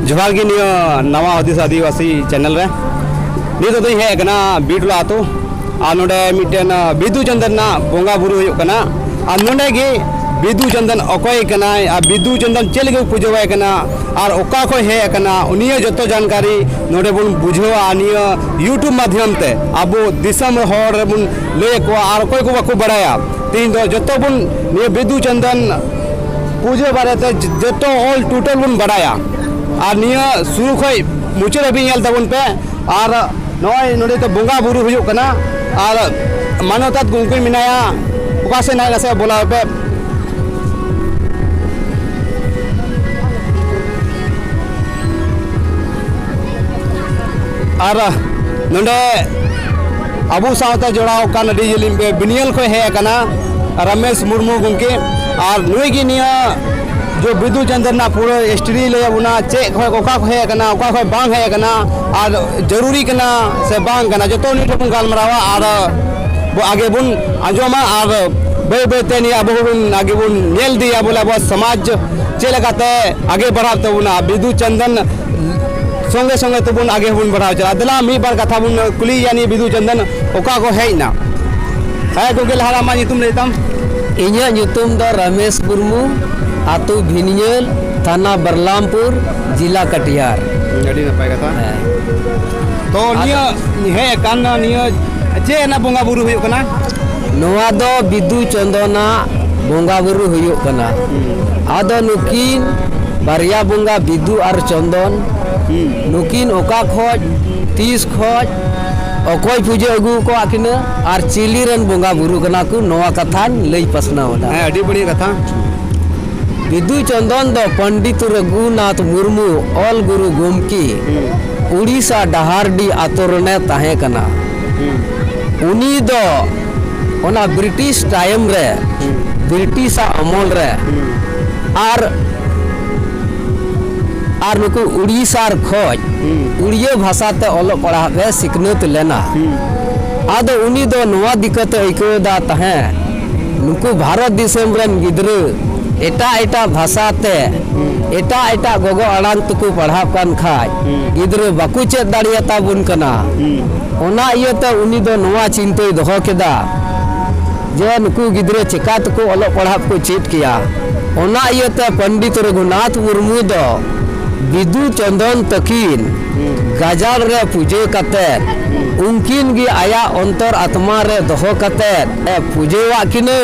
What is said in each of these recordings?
ᱡᱚᱦᱟᱨ ᱜᱮ ᱱᱤᱭᱟᱹ ᱱᱟᱣᱟ ᱦᱩᱫᱤᱥ ᱟᱹᱫᱤᱵᱟᱹᱥᱤ ᱪᱮᱱᱮᱞ ᱨᱮ ᱱᱤᱛᱚᱜ ᱫᱚᱧ ᱦᱮᱡ ᱟᱠᱟᱱᱟ ᱵᱤᱴᱞᱟ ᱟᱛᱳ ᱟᱨ ᱱᱚᱰᱮ ᱢᱤᱫᱴᱮᱱ ᱵᱤᱫᱩ ᱪᱟᱸᱫᱟᱱ ᱨᱮᱱᱟᱜ ᱵᱚᱸᱜᱟ ᱵᱩᱨᱩ ᱦᱩᱭᱩᱜ ᱠᱟᱱᱟ ᱟᱨ ᱱᱚᱰᱮ ᱜᱮ ᱵᱤᱫᱩ ᱪᱟᱸᱫᱟᱱ ᱚᱠᱚᱭ ᱠᱟᱱᱟᱭ ᱟᱨ ᱵᱤᱫᱩ ᱪᱟᱸᱫᱟᱱ ᱪᱮᱫ ᱞᱟᱹᱜᱤᱫ ᱯᱩᱡᱟᱹᱣᱟᱭ ᱠᱟᱱᱟ ᱟᱨ ᱚᱠᱟ ᱠᱷᱚᱱ ᱦᱮᱡ ᱟᱠᱟᱱᱟ ᱩᱱᱤᱭᱟᱜ ᱡᱚᱛᱚ ᱡᱟᱱᱠᱟᱨᱤ ᱱᱚᱰᱮ ᱵᱚᱱ ᱵᱩᱡᱷᱟᱹᱣᱟ ᱱᱤᱭᱟᱹ ᱤᱭᱩᱴᱩᱵᱽ ᱢᱟᱫᱽᱫᱷᱚᱢ ᱛᱮ ᱟᱵᱚ ᱫᱤᱥᱚᱢ ᱦᱚᱲ ᱨᱮᱵᱚᱱ ᱞᱟᱹᱭ ᱟᱠᱚᱣᱟ ᱟᱨ ᱚᱠᱚᱭ ᱠᱚ ᱵᱟᱠᱚ ᱵᱟᱲᱟᱭᱟ ᱛᱮᱦᱮᱧ ᱫᱚ ᱡᱚᱛᱚ ᱵᱚᱱ ᱱᱤᱭᱟᱹ ᱵᱤᱫᱩ ᱪᱟᱸᱫᱟᱱ ᱯᱩᱡᱟᱹ ᱵᱟᱨᱮᱛᱮ ᱡᱚᱛᱚ ᱚᱞ ᱴᱳᱴᱟᱞ ᱵᱚᱱ ᱵᱟᱰᱟᱭᱟ ᱟᱨ ᱱᱤᱭᱟᱹ ᱥᱩᱨᱩ ᱠᱷᱚᱡ ᱢᱩᱪᱟᱹᱫ ᱦᱟᱹᱵᱤᱡ ᱧᱮᱞ ᱛᱟᱵᱚᱱ ᱯᱮ ᱟᱨ ᱱᱚᱜᱼᱚᱭ ᱱᱚᱰᱮ ᱫᱚ ᱵᱚᱸᱜᱟ ᱵᱩᱨᱩ ᱦᱩᱭᱩᱜ ᱠᱟᱱᱟ ᱟᱨ ᱢᱟᱱᱚᱛᱟᱛ ᱜᱚᱢᱠᱮ ᱢᱮᱱᱟᱭᱟ ᱚᱠᱟ ᱥᱮᱫ ᱱᱟᱭ ᱱᱟᱥᱮ ᱵᱚᱞᱟᱣ ᱯᱮ ᱟᱨ ᱱᱚᱰᱮ ᱟᱵᱚ ᱥᱟᱶᱛᱮ ᱡᱚᱲᱟᱣ ᱟᱠᱟᱱ ᱟᱹᱰᱤ ᱡᱤᱞᱤᱧ ᱵᱤᱱᱤᱭᱟᱞ ᱠᱷᱚᱱ ᱦᱮᱡ ᱟᱠᱟᱱᱟ ᱨᱟᱢᱮᱥ ᱢᱩᱨᱢᱩ ᱜᱚᱢᱠᱮ ᱟᱨ ᱱᱩᱭ ᱜᱮ ᱱᱤᱭᱟᱹ ᱡᱚ ᱵᱤᱫᱩ ᱪᱟᱸᱫᱟᱱ ᱨᱮᱱᱟᱜ ᱯᱩᱨᱟᱹ ᱦᱤᱥᱴᱨᱤ ᱞᱟᱹᱭ ᱟᱵᱚᱱᱟ ᱪᱮᱫ ᱠᱷᱚᱱ ᱚᱠᱟ ᱠᱷᱚᱱ ᱦᱮᱡ ᱟᱠᱟᱱᱟ ᱚᱠᱟ ᱠᱷᱚᱱ ᱵᱟᱝ ᱦᱮᱡ ᱟᱠᱟᱱᱟ ᱟᱨ ᱡᱟᱹᱨᱩᱨᱤ ᱠᱟᱱᱟ ᱥᱮ ᱵᱟᱝ ᱠᱟᱱᱟ ᱡᱚᱛᱚ ᱱᱤᱭᱟᱹ ᱛᱮᱵᱚᱱ ᱜᱟᱞᱢᱟᱨᱟᱣᱟ ᱟᱨ ᱟᱜᱮ ᱵᱚᱱ ᱟᱸᱡᱚᱢᱟ ᱟᱨ ᱵᱟᱹᱭ ᱵᱟᱹᱭᱛᱮ ᱱᱤᱭᱟᱹ ᱟᱵᱚ ᱵᱚᱱ ᱟᱜᱮ ᱵᱚᱱ ᱧᱮᱞ ᱤᱫᱤᱭᱟ ᱵᱚᱞᱮ ᱟᱵᱚᱣᱟᱜ ᱥᱚᱢᱟᱡᱽ ᱪᱮᱫ ᱞᱮᱠᱟᱛᱮ ᱟᱜᱮ ᱵᱟᱲᱦᱟᱜ ᱛᱟᱵᱚᱱᱟ ᱵᱤᱫᱩ ᱪᱟᱸᱫᱟᱱ ᱥᱚᱸᱜᱮ ᱥᱚᱸᱜᱮ ᱛᱮᱵᱚᱱ ᱟᱜᱮ ᱵᱚᱱ ᱵᱟᱲᱦᱟᱣ ᱪᱟᱞᱟᱜᱼᱟ ᱫᱮᱞᱟ ᱢᱤᱫ ᱵᱟᱨ ᱠᱟᱛᱷᱟ ᱵᱚᱱ ᱠᱩᱞᱤᱭᱮᱭᱟ ᱱᱤᱭᱟᱹ ᱵᱤᱫᱩ ᱪᱟᱸᱫᱟᱱ ᱚᱠᱟ ᱠᱚ ᱦᱮᱡ ᱮᱱᱟ ᱦᱮᱸ ᱜᱚᱢᱠᱮ ᱞᱟᱦᱟ ᱟᱢᱟᱜ ᱧᱩᱛᱩᱢ ᱞᱟᱹᱭ ᱛᱟᱢ ᱤᱧᱟᱹᱜ ᱧᱩᱛᱩᱢ ᱫᱚ ᱨᱟᱢᱮᱥ ᱢᱩᱨᱢᱩ ᱟᱛᱳ ᱵᱷᱤᱱᱤᱭᱟᱹᱞ ᱛᱷᱟᱱᱟ ᱵᱟᱨᱞᱟᱢᱯᱩᱨ ᱡᱮᱞᱟ ᱠᱟᱴᱤᱦᱟᱨ ᱟᱹᱰᱤ ᱱᱟᱯᱟᱭ ᱠᱟᱛᱷᱟ ᱦᱮᱸ ᱛᱚ ᱱᱤᱭᱟᱹ ᱦᱮᱡ ᱟᱠᱟᱱ ᱱᱤᱭᱟᱹ ᱪᱮᱫ ᱨᱮᱱᱟᱜ ᱵᱚᱸᱜᱟ ᱵᱩᱨᱩ ᱦᱩᱭᱩᱜ ᱠᱟᱱᱟ ᱱᱚᱣᱟ ᱫᱚ ᱵᱤᱫᱩ ᱪᱚᱱᱫᱚᱱᱟᱜ ᱵᱚᱸᱜᱟ ᱵᱩᱨᱩ ᱦᱩᱭᱩᱜ ᱠᱟᱱᱟ ᱟᱫᱚ ᱱᱩᱠᱤᱱ ᱵᱟᱨᱭᱟ ᱵᱚᱸᱜᱟ ᱵᱤᱫᱩ ᱟᱨ ᱪᱚᱱᱫᱚᱱ ᱱᱩᱠᱤᱱ ᱚᱠᱟ ᱠᱷᱚᱡ ᱛᱤᱥ ᱠᱷᱚᱡ ᱚᱠᱚᱭ ᱯᱩᱡᱟᱹ ᱟᱹᱜᱩ ᱟᱠᱟᱫ ᱠᱤᱱᱟᱹ ᱟᱨ ᱪᱤᱞᱤ ᱨᱮᱱ ᱵᱚᱸᱜᱟ ᱵᱩᱨᱩ ᱠᱟᱱᱟ ᱠᱚ ᱱᱚᱣᱟ ᱠᱟᱛᱷᱟᱧ ᱞᱟᱹᱭ ᱯᱟᱥᱱᱟᱣ ᱮᱫᱟ ᱦᱮᱸ ᱟᱹᱰᱤ ᱵᱟᱹᱲᱤᱡ ᱠᱟᱛᱷᱟ ᱵᱤᱫᱩ ᱪᱚᱱᱫᱚᱱ ᱫᱚ ᱯᱚᱱᱰᱤᱛ ᱨᱚᱜᱷᱩᱱᱟᱛᱷ ᱢᱩᱨᱢᱩ ᱚᱞ ᱜᱩᱨᱩ ᱜᱚᱢᱠᱮ ᱩᱲᱤᱥᱥᱟ ᱰᱟᱦᱟᱨᱰᱤ ᱟᱛᱳ ᱨᱮᱱᱮ ᱛᱟᱦᱮᱸ ᱠᱟᱱᱟ ᱩᱱᱤ ᱫᱚ ᱚᱱᱟ ᱵᱨᱤᱴᱤᱥ ᱴᱟᱭᱤᱢ ᱨᱮ ᱵᱨᱤᱴᱤᱥᱟᱜ ᱟᱢᱚᱞ ᱨᱮ ᱟᱨ ᱟᱨ ᱱᱩᱠᱩ ᱩᱲᱤᱥᱥᱟ ᱠᱷᱚᱡ ᱩᱲᱤᱭᱟᱹ ᱵᱷᱟᱥᱟ ᱛᱮ ᱚᱞᱚᱜ ᱯᱟᱲᱦᱟᱜ ᱨᱮ ᱥᱤᱠᱷᱱᱟᱹᱛ ᱞᱮᱱᱟ ᱟᱫᱚ ᱩᱱᱤ ᱫᱚ ᱱᱚᱣᱟ ᱫᱤᱠᱟᱹᱛᱮ ᱟᱹᱭᱠᱟᱹᱣ ᱮᱫᱟ ᱛᱟᱦᱮᱸᱫ ᱱᱩᱠᱩ ᱵᱷᱟᱨᱚᱛ ᱫᱤᱥᱚᱢ ᱨᱮᱱ ᱜᱤᱫᱽᱨᱟᱹ ᱮᱴᱟᱜ ᱮᱴᱟᱜ ᱵᱷᱟᱥᱟ ᱛᱮ ᱮᱴᱟᱜ ᱮᱴᱟᱜ ᱜᱚᱜᱚ ᱟᱲᱟᱝ ᱛᱮᱠᱚ ᱯᱟᱲᱦᱟᱜ ᱠᱟᱱ ᱠᱷᱟᱡ ᱜᱤᱫᱽᱨᱟᱹ ᱵᱟᱠᱚ ᱪᱮᱫ ᱫᱟᱲᱮᱭᱟᱛᱟ ᱵᱚᱱ ᱠᱟᱱᱟ ᱚᱱᱟ ᱤᱭᱟᱹᱛᱮ ᱩᱱᱤ ᱫᱚ ᱱᱚᱣᱟ ᱪᱤᱱᱛᱟᱹᱭ ᱫᱚᱦᱚ ᱠᱮᱫᱟ ᱡᱮ ᱱᱩᱠᱩ ᱜᱤᱫᱽᱨᱟᱹ ᱪᱮᱠᱟ ᱛᱮᱠᱚ ᱚᱞᱚᱜ ᱯᱟᱲᱦᱟᱜ ᱠᱚ ᱪᱮᱫ ᱠᱮᱭᱟ ᱚᱱᱟ ᱤᱭᱟᱹᱛᱮ ᱯᱚᱱᱰᱤᱛ ᱨᱚᱜᱷᱩᱱᱟᱛᱷ ᱢᱩᱨᱢᱩ ᱫᱚ ᱵᱤᱫᱩ ᱪᱚᱱᱫᱚᱱ ᱛᱟᱹᱠᱤᱱ ᱜᱟᱡᱟᱲ ᱨᱮ ᱯᱩᱡᱟᱹ ᱠᱟᱛᱮ ᱩᱱᱠᱤᱱ ᱜᱮ ᱟᱭᱟᱜ ᱚᱱᱛᱚᱨ ᱟᱛᱢᱟ ᱨᱮ ᱫᱚᱦᱚ ᱠᱟᱛᱮ ᱯᱩᱡᱟᱹᱣᱟᱜ ᱠᱤᱱᱟᱹ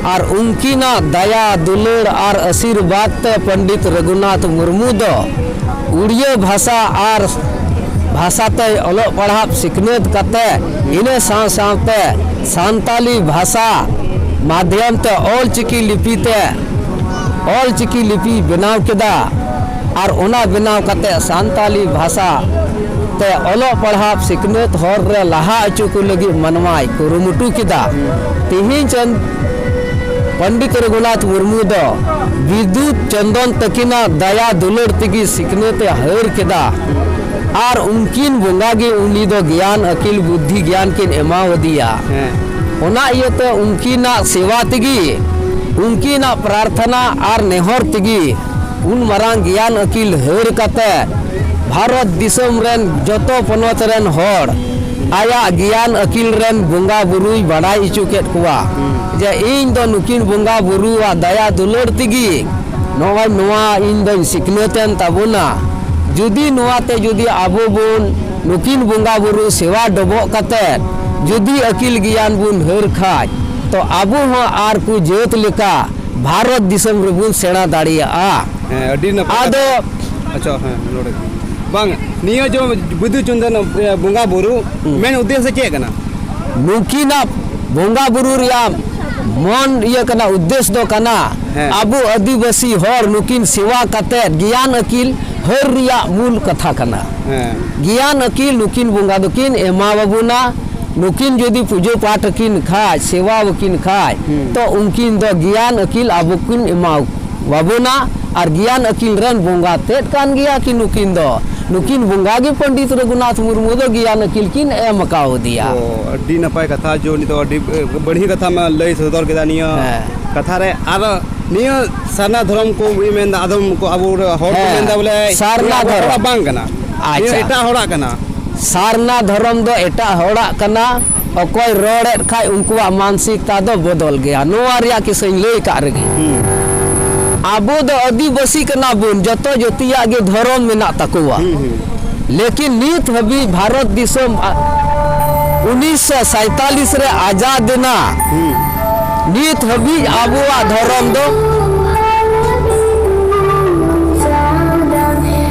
ᱟᱨ ᱩᱱᱠᱤᱱᱟᱜ ᱫᱟᱭᱟ ᱫᱩᱞᱟᱹᱲ ᱟᱨ ᱟᱥᱤᱨᱵᱟᱫᱽ ᱛᱮ ᱯᱚᱱᱰᱤᱛ ᱨᱚᱜᱷᱩᱱᱟᱛᱷ ᱢᱩᱨᱢᱩ ᱫᱚ ᱩᱲᱤᱭᱟᱹ ᱵᱷᱟᱥᱟ ᱟᱨ ᱵᱷᱟᱥᱟ ᱛᱮᱭ ᱚᱞᱚᱜ ᱯᱟᱲᱦᱟᱜ ᱥᱤᱠᱷᱱᱟᱹᱛ ᱠᱟᱛᱮ ᱤᱱᱟᱹ ᱥᱟᱶ ᱥᱟᱶᱛᱮ ᱥᱟᱱᱛᱟᱞᱤ ᱵᱷᱟᱥᱟ ᱢᱟᱫᱽᱫᱷᱚᱢ ᱛᱮ ᱚᱞ ᱪᱤᱠᱤ ᱞᱤᱯᱤ ᱛᱮ ᱚᱞ ᱪᱤᱠᱤ ᱞᱤᱯᱤ ᱵᱮᱱᱟᱣ ᱠᱮᱫᱟ ᱟᱨ ᱚᱱᱟ ᱵᱮᱱᱟᱣ ᱠᱟᱛᱮ ᱥᱟᱱᱛᱟᱞᱤ ᱵᱷᱟᱥᱟ ᱛᱮ ᱚᱞᱚᱜ ᱯᱟᱲᱦᱟᱜ ᱥᱤᱠᱷᱱᱟᱹᱛ ᱦᱚᱨ ᱨᱮ ᱞᱟᱦᱟ ᱚᱪᱚ ᱠᱚ ᱞᱟᱹᱜᱤᱫ ᱢᱟᱱᱣᱟᱭ ᱠᱩᱨᱩᱢᱩᱴᱩ ᱠᱮᱫᱟ ᱛᱮᱦᱮᱧ ᱪᱟᱸᱫ ᱯᱚᱱᱰᱤᱛ ᱨᱚᱜᱷᱩᱱᱟᱛᱷ ᱢᱩᱨᱢᱩ ᱫᱚ ᱵᱤᱫᱩᱛ ᱪᱚᱱᱫᱚᱱ ᱛᱟᱹᱠᱤᱱᱟᱜ ᱫᱟᱭᱟ ᱫᱩᱞᱟᱹᱲ ᱛᱮᱜᱮ ᱥᱤᱠᱷᱱᱟᱹᱛ ᱮ ᱦᱟᱹᱨ ᱠᱮᱫᱟ ᱟᱨ ᱩᱱᱠᱤᱱ ᱵᱚᱸᱜᱟ ᱜᱮ ᱩᱱᱤ ᱫᱚ ᱜᱮᱭᱟᱱ ᱟᱹᱠᱤᱞ ᱵᱩᱫᱽᱫᱷᱤ ᱜᱮᱭᱟᱱ ᱠᱤᱱ ᱮᱢᱟᱣᱟᱫᱮᱭᱟ ᱚᱱᱟ ᱤᱭᱟᱹᱛᱮ ᱩᱱᱠᱤᱱᱟᱜ ᱥᱮᱵᱟ ᱛᱮᱜᱮ ᱩᱱᱠᱤᱱᱟᱜ ᱯᱨᱟᱨᱛᱷᱚᱱᱟ ᱟᱨ ᱱᱮᱦᱚᱨ ᱛᱮᱜᱮ ᱩᱱ ᱢᱟᱨᱟᱝ ᱜᱮᱭᱟᱱ ᱟᱹᱠᱤᱞ ᱦᱟᱹᱨ ᱠᱟᱛᱮ ᱵᱷᱟᱨᱚᱛ ᱫᱤᱥᱚᱢ ᱨᱮᱱ ᱡᱚᱛᱚ ᱯᱚᱱᱚᱛ ᱨᱮᱱ ᱦᱚᱲ ᱟᱭᱟᱜ ᱜᱮᱭᱟᱱ ᱟᱹᱠᱤᱞ ᱨᱮᱱ ᱵᱚᱸᱜᱟ ᱵᱩᱨᱩᱭ ᱵᱟᱰᱟᱭ ᱦᱚᱪᱚ ᱠᱮᱫ ᱠᱚᱣᱟ ᱡᱮ ᱤᱧ ᱫᱚ ᱱᱩᱠᱤᱱ ᱵᱚᱸᱜᱟ ᱵᱩᱨᱩᱣᱟᱜ ᱫᱟᱭᱟ ᱫᱩᱞᱟᱹᱲ ᱛᱮᱜᱮ ᱱᱚᱜᱼᱚᱭ ᱱᱚᱣᱟ ᱤᱧ ᱫᱚᱧ ᱥᱤᱠᱷᱱᱟᱹᱛ ᱮᱱ ᱛᱟᱵᱚᱱᱟ ᱡᱩᱫᱤ ᱱᱚᱣᱟ ᱛᱮ ᱡᱩᱫᱤ ᱟᱵᱚ ᱵᱚᱱ ᱱᱩᱠᱤᱱ ᱵᱚᱸᱜᱟ ᱵᱩᱨᱩ ᱥᱮᱵᱟ ᱰᱚᱵᱚᱜ ᱠᱟᱛᱮ ᱡᱩᱫᱤ ᱟᱹᱠᱤᱞ ᱜᱮᱭᱟᱱ ᱵᱚᱱ ᱦᱟᱹᱨ ᱠᱷᱟᱱ ᱛᱚ ᱟᱵᱚ ᱦᱚᱸ ᱟᱨ ᱠᱚ ᱡᱟᱹᱛ ᱞᱮᱠᱟ ᱵᱷᱟᱨᱚᱛ ᱫᱤᱥᱚᱢ ᱨᱮᱵᱚᱱ ᱥᱮᱬᱟ ᱫᱟᱲᱮᱭᱟᱜᱼᱟ ᱦᱮᱸ ᱟᱹᱰᱤ ᱱᱟᱯᱟᱭ ᱟᱫᱚ ᱟᱪᱪᱷᱟ ᱦᱮᱸ ᱱᱚᱰᱮ ᱵᱟᱝ ᱱᱤᱭᱟᱹ ᱡᱚ ᱵᱤᱫᱩ ᱪᱚᱱᱫᱚᱱ ᱵᱚᱸᱜᱟ ᱵᱩᱨᱩ ᱢᱮᱱ ᱩᱫᱽᱫᱮᱥᱥᱚ ᱪᱮᱫ ᱠᱟᱱᱟ ᱱᱩᱠᱤᱱᱟᱜ ᱵᱚᱸᱜᱟ ᱵᱩᱨᱩ ᱨᱮᱭᱟᱜ ᱢᱚᱱ ᱤᱭᱟᱹ ᱠᱟᱱᱟ ᱩᱫᱽᱫᱮᱥ ᱫᱚ ᱠᱟᱱᱟ ᱦᱮᱸ। ᱟᱵᱚ ᱟᱹᱫᱤᱵᱟᱹᱥᱤ ᱦᱚᱲ ᱱᱩᱠᱤᱱ ᱥᱮᱵᱟ ᱠᱟᱛᱮᱫ ᱜᱮᱭᱟᱱ ᱟᱹᱠᱤᱞ ᱦᱟᱹᱨ ᱨᱮᱭᱟᱜ ᱢᱩᱞ ᱠᱟᱛᱷᱟ ᱠᱟᱱᱟ ᱦᱮᱸ ᱜᱮᱭᱟᱱ ᱟᱹᱠᱤᱞ ᱱᱩᱠᱤᱱ ᱵᱚᱸᱜᱟ ᱫᱚᱠᱤᱱ ᱮᱢᱟᱣᱟᱵᱚᱱᱟ ᱱᱩᱠᱤᱱ ᱡᱩᱫᱤ ᱯᱩᱡᱟᱹ ᱯᱟᱴ ᱟᱹᱠᱤᱱ ᱠᱷᱟᱡ ᱥᱮᱵᱟ ᱟᱹᱠᱤᱱ ᱠᱷᱟᱡ ᱛᱚ ᱩᱱᱠᱤᱱ ᱫᱚ ᱜᱮᱭᱟᱱ ᱟᱹᱠᱤᱞ ᱟᱵᱚ ᱠᱤᱱ ᱮᱢᱟ ᱟᱵᱚᱱᱟ ᱟᱨ ᱜᱮᱭᱟᱱ ᱟᱹᱠᱤᱞ ᱨᱮᱱ ᱵᱚᱸᱜᱟ ᱛᱮᱫ ᱠᱟᱱ ᱜᱮᱭᱟ ᱠᱤᱱ ᱱᱩᱠᱤᱱ ᱫᱚ ᱱᱩᱠᱤᱱ ᱵᱚᱸᱜᱟ ᱜᱮ ᱯᱚᱱᱰᱤᱛ ᱨᱚᱜᱷᱩᱱᱟᱛᱷ ᱢᱩᱨᱢᱩ ᱫᱚ ᱜᱮᱭᱟᱱ ᱟᱹᱠᱤᱞ ᱠᱤᱱ ᱮᱢ ᱠᱟᱣᱫᱮᱭᱟ ᱟᱹᱰᱤ ᱱᱟᱯᱟᱭ ᱠᱟᱛᱷᱟ ᱡᱮ ᱩᱱᱤ ᱫᱚ ᱟᱹᱰᱤ ᱵᱟᱹᱲᱦᱤ ᱠᱟᱛᱷᱟ ᱢᱟ ᱞᱟᱹᱭ ᱥᱚᱫᱚᱨ ᱠᱮᱫᱟ ᱱᱤᱭᱟᱹ ᱠᱟᱛᱷᱟ ᱨᱮ ᱟᱨ ᱱᱤᱭᱟᱹ ᱥᱟᱨᱱᱟ ᱫᱷᱚᱨᱚᱢ ᱠᱚ ᱢᱮᱱᱫᱟ ᱟᱫᱚᱢ ᱠᱚ ᱟᱵᱚ ᱦᱚᱲ ᱠᱚ ᱢᱮᱱᱫᱟ ᱵᱚᱞᱮ ᱥᱟᱨᱱᱟ ᱫᱷᱚᱨᱚᱢ ᱵᱟᱝ ᱠᱟᱱᱟ ᱟᱪᱪᱷᱟ ᱮᱴᱟᱜ ᱦᱚᱲᱟᱜ ᱠᱟᱱᱟ ᱥᱟᱨᱱᱟ ᱫᱷᱚᱨᱚᱢ ᱫᱚ ᱮᱴᱟᱜ ᱦᱚᱲᱟᱜ ᱠᱟᱱᱟ ᱚᱠᱚᱭ ᱨᱚᱲᱮᱫ ᱠᱷᱟᱡ ᱩᱱᱠᱩᱣᱟᱜ ᱢᱟᱱᱥᱤᱠᱛᱟ ᱫᱚ ᱵᱚᱫᱚᱞ ᱜᱮᱭᱟ ᱱᱚᱣᱟ ᱨᱮᱭᱟᱜ ᱠᱤᱥᱟᱹᱧ ᱞᱟᱹᱭ ᱠᱟᱜ ᱨᱮᱜᱮ ᱟᱵᱚ ᱫᱚ ᱟᱹᱫᱤᱵᱟᱹᱥᱤ ᱠᱟᱱᱟ ᱵᱚᱱ ᱡᱚᱛᱚ ᱡᱟᱹᱛᱤᱭᱟᱜ ᱜᱮ ᱫᱷᱚᱨᱚᱢ ᱢᱮᱱᱟᱜ ᱛᱟᱠᱚᱣᱟ ᱞᱮᱠᱤᱱ ᱱᱤᱛ ᱦᱟᱹᱵᱤᱡ ᱵᱷᱟᱨᱚᱛ ᱫᱤᱥᱚᱢ ᱩᱱᱤᱥᱥᱚ ᱥᱟᱭᱛᱟᱞᱤᱥ ᱨᱮ ᱟᱡᱟᱫ ᱮᱱᱟ ᱱᱤᱛ ᱦᱟᱹᱵᱤᱡ ᱟᱵᱚᱣᱟᱜ ᱫᱷᱚᱨᱚᱢ ᱫᱚ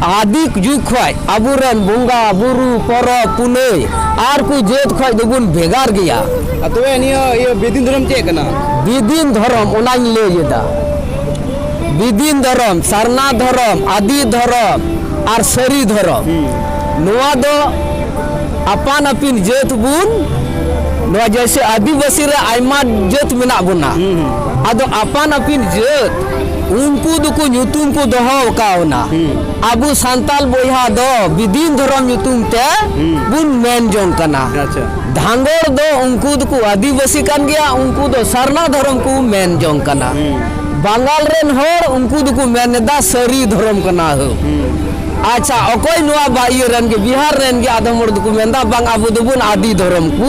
ᱟᱹᱫᱤ ᱡᱩᱜᱽ ᱠᱷᱚᱡ ᱟᱵᱚᱨᱮᱱ ᱵᱚᱸᱜᱟ ᱵᱩᱨᱩ ᱯᱚᱨᱚᱵᱽ ᱯᱩᱱᱟᱹᱭ ᱟᱨ ᱠᱚ ᱡᱟᱹᱛ ᱠᱷᱚᱡ ᱫᱚᱵᱚᱱ ᱵᱷᱮᱜᱟᱨ ᱜᱮᱭᱟ ᱛᱚᱵᱮ ᱱᱤᱭᱟᱹ ᱤᱭᱟᱹ ᱵᱮᱫᱤᱱ ᱫᱷᱚᱨᱚᱢ ᱪᱮᱫ ᱠᱟᱱᱟ ᱵᱤᱫᱤᱱ ᱫᱷᱚᱨᱚᱢ ᱚᱱᱟᱧ ᱞᱟᱹᱭ ᱮᱫᱟ ᱵᱤᱫᱤᱱ ᱫᱷᱚᱨᱚᱢ ᱥᱟᱨᱱᱟ ᱫᱷᱚᱨᱚᱢ ᱟᱹᱫᱤ ᱫᱷᱚᱨᱚᱢ ᱟᱨ ᱥᱟᱹᱨᱤ ᱫᱷᱚᱨᱚᱢ ᱱᱚᱣᱟ ᱫᱚ ᱟᱯᱟᱱ ᱟᱹᱯᱤᱱ ᱡᱟᱹᱛ ᱵᱚᱱ ᱱᱚᱣᱟ ᱡᱮᱭᱥᱮ ᱟᱹᱫᱤᱵᱟᱹᱥᱤ ᱨᱮ ᱟᱭᱢᱟ ᱡᱟᱹᱛ ᱢᱮᱱᱟᱜ ᱵᱚᱱᱟ ᱟᱫᱚ ᱟᱯᱟᱱ ᱟᱹᱯᱤᱱ ᱡᱟᱹᱛ ᱩᱱᱠᱩ ᱫᱚᱠᱚ ᱧᱩᱛᱩᱢ ᱠᱚ ᱫᱚᱦᱚ ᱟᱠᱟᱣᱱᱟ ᱟᱵᱚ ᱥᱟᱱᱛᱟᱞ ᱵᱚᱭᱦᱟ ᱫᱚ ᱵᱤᱫᱤᱱ ᱫᱷᱚᱨᱚᱢ ᱧᱩᱛᱩᱢ ᱛᱮ ᱵᱚᱱ ᱢᱮᱱ ᱡᱚᱝ ᱠᱟᱱᱟ ᱟᱪᱪᱷᱟ ᱫᱷᱟᱸᱜᱚᱲ ᱫᱚ ᱩᱱᱠᱩ ᱫᱚᱠᱚ ᱟᱹᱫᱤᱵᱟᱹᱥᱤ ᱠᱟᱱ ᱜᱮᱭᱟ ᱩᱱᱠᱩ ᱫᱚ ᱥᱟᱨᱱᱟ ᱫᱷᱚᱨᱚᱢ ᱠᱚ ᱢᱮᱱ ᱡᱚᱝ ᱠᱟᱱᱟ ᱵᱟᱝᱜᱟᱞ ᱨᱮᱱ ᱦᱚᱲ ᱩᱱᱠᱩ ᱫᱚᱠᱚ ᱢᱮᱱ ᱮᱫᱟ ᱥᱟᱹᱨᱤ ᱫᱷᱚᱨᱚᱢ ᱠᱟᱱᱟ ᱦᱳ ᱟᱪᱪᱷᱟ ᱚᱠᱚᱭ ᱱᱚᱣᱟ ᱵᱟ ᱤᱭᱟᱹ ᱨᱮᱱ ᱜᱮ ᱵᱤᱦᱟᱨ ᱨᱮᱱ ᱜᱮ ᱟᱫᱚᱢ ᱦᱚᱲ ᱫᱚᱠᱚ ᱢᱮᱱ ᱮᱫᱟ ᱵᱟᱝ ᱟᱵᱚ ᱫᱚᱵᱚᱱ ᱟᱹᱫᱤ ᱫᱷᱚᱨᱚᱢ ᱠᱚ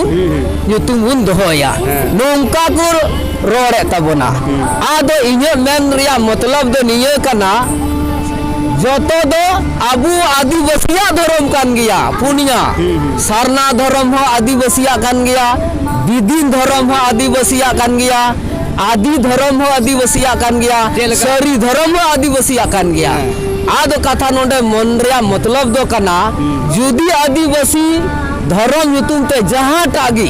ᱧᱩᱛᱩᱢ ᱵᱚᱱ ᱫᱚᱦᱚᱭᱟ ᱱᱚᱝᱠᱟ ᱠᱚ ᱨᱚᱲᱮᱫ ᱛᱟᱵᱚᱱᱟ ᱟᱫᱚ ᱤᱧᱟᱹᱜ ᱢᱮᱱ ᱨᱮᱭᱟᱜ ᱢᱚᱛᱞᱚᱵ ᱫᱚ ᱱᱤᱭᱟᱹ ᱠᱟᱱᱟ ᱡᱚᱛᱚ ᱫᱚ ᱟᱵᱚ ᱟᱹᱫᱤᱵᱟᱹᱥᱤᱭᱟᱜ ᱫᱷᱚᱨᱚᱢ ᱠᱟᱱ ᱜᱮᱭᱟ ᱯᱩᱱᱭᱟ ᱥᱟᱨᱱᱟ ᱫᱷᱚᱨᱚᱢ ᱦᱚᱸ ᱟᱹᱫᱤᱵᱟᱹᱥᱤᱭᱟᱜ ᱠᱟᱱ ᱜᱮᱭᱟ ᱵᱤᱫᱤᱱ ᱫᱷᱚᱨᱚᱢ ᱦᱚᱸ ᱟᱹᱫᱤᱵᱟᱹᱥᱤᱭᱟᱜ ᱠᱟᱱ ᱜᱮᱭᱟ ᱟᱫᱤ ᱫᱷᱚᱨᱚᱢ ᱦᱚᱸ ᱟᱹᱫᱤᱵᱟᱹᱥᱤᱭᱟᱜ ᱠᱟᱱ ᱜᱮᱭᱟ ᱥᱟᱹᱨᱤ ᱫᱷᱚᱨᱚᱢ ᱦᱚᱸ ᱟᱹᱫᱤᱵᱟᱹᱥᱤᱭᱟᱜ ᱠᱟᱱ ᱜᱮᱭᱟ ᱟᱫᱚ ᱠᱟᱛᱷᱟ ᱱᱚᱰᱮ ᱢᱚᱱ ᱨᱮᱭᱟᱜ ᱢᱚᱛᱞᱚᱵ ᱫᱚ ᱠᱟᱱᱟ ᱡᱩᱫᱤ ᱟᱹᱫᱤᱵᱟᱹᱥᱤ ᱫᱷᱚᱨᱚᱢ ᱧᱩᱛᱩᱢ ᱛᱮ ᱡᱟᱦᱟᱸᱴᱟᱜ ᱜᱮ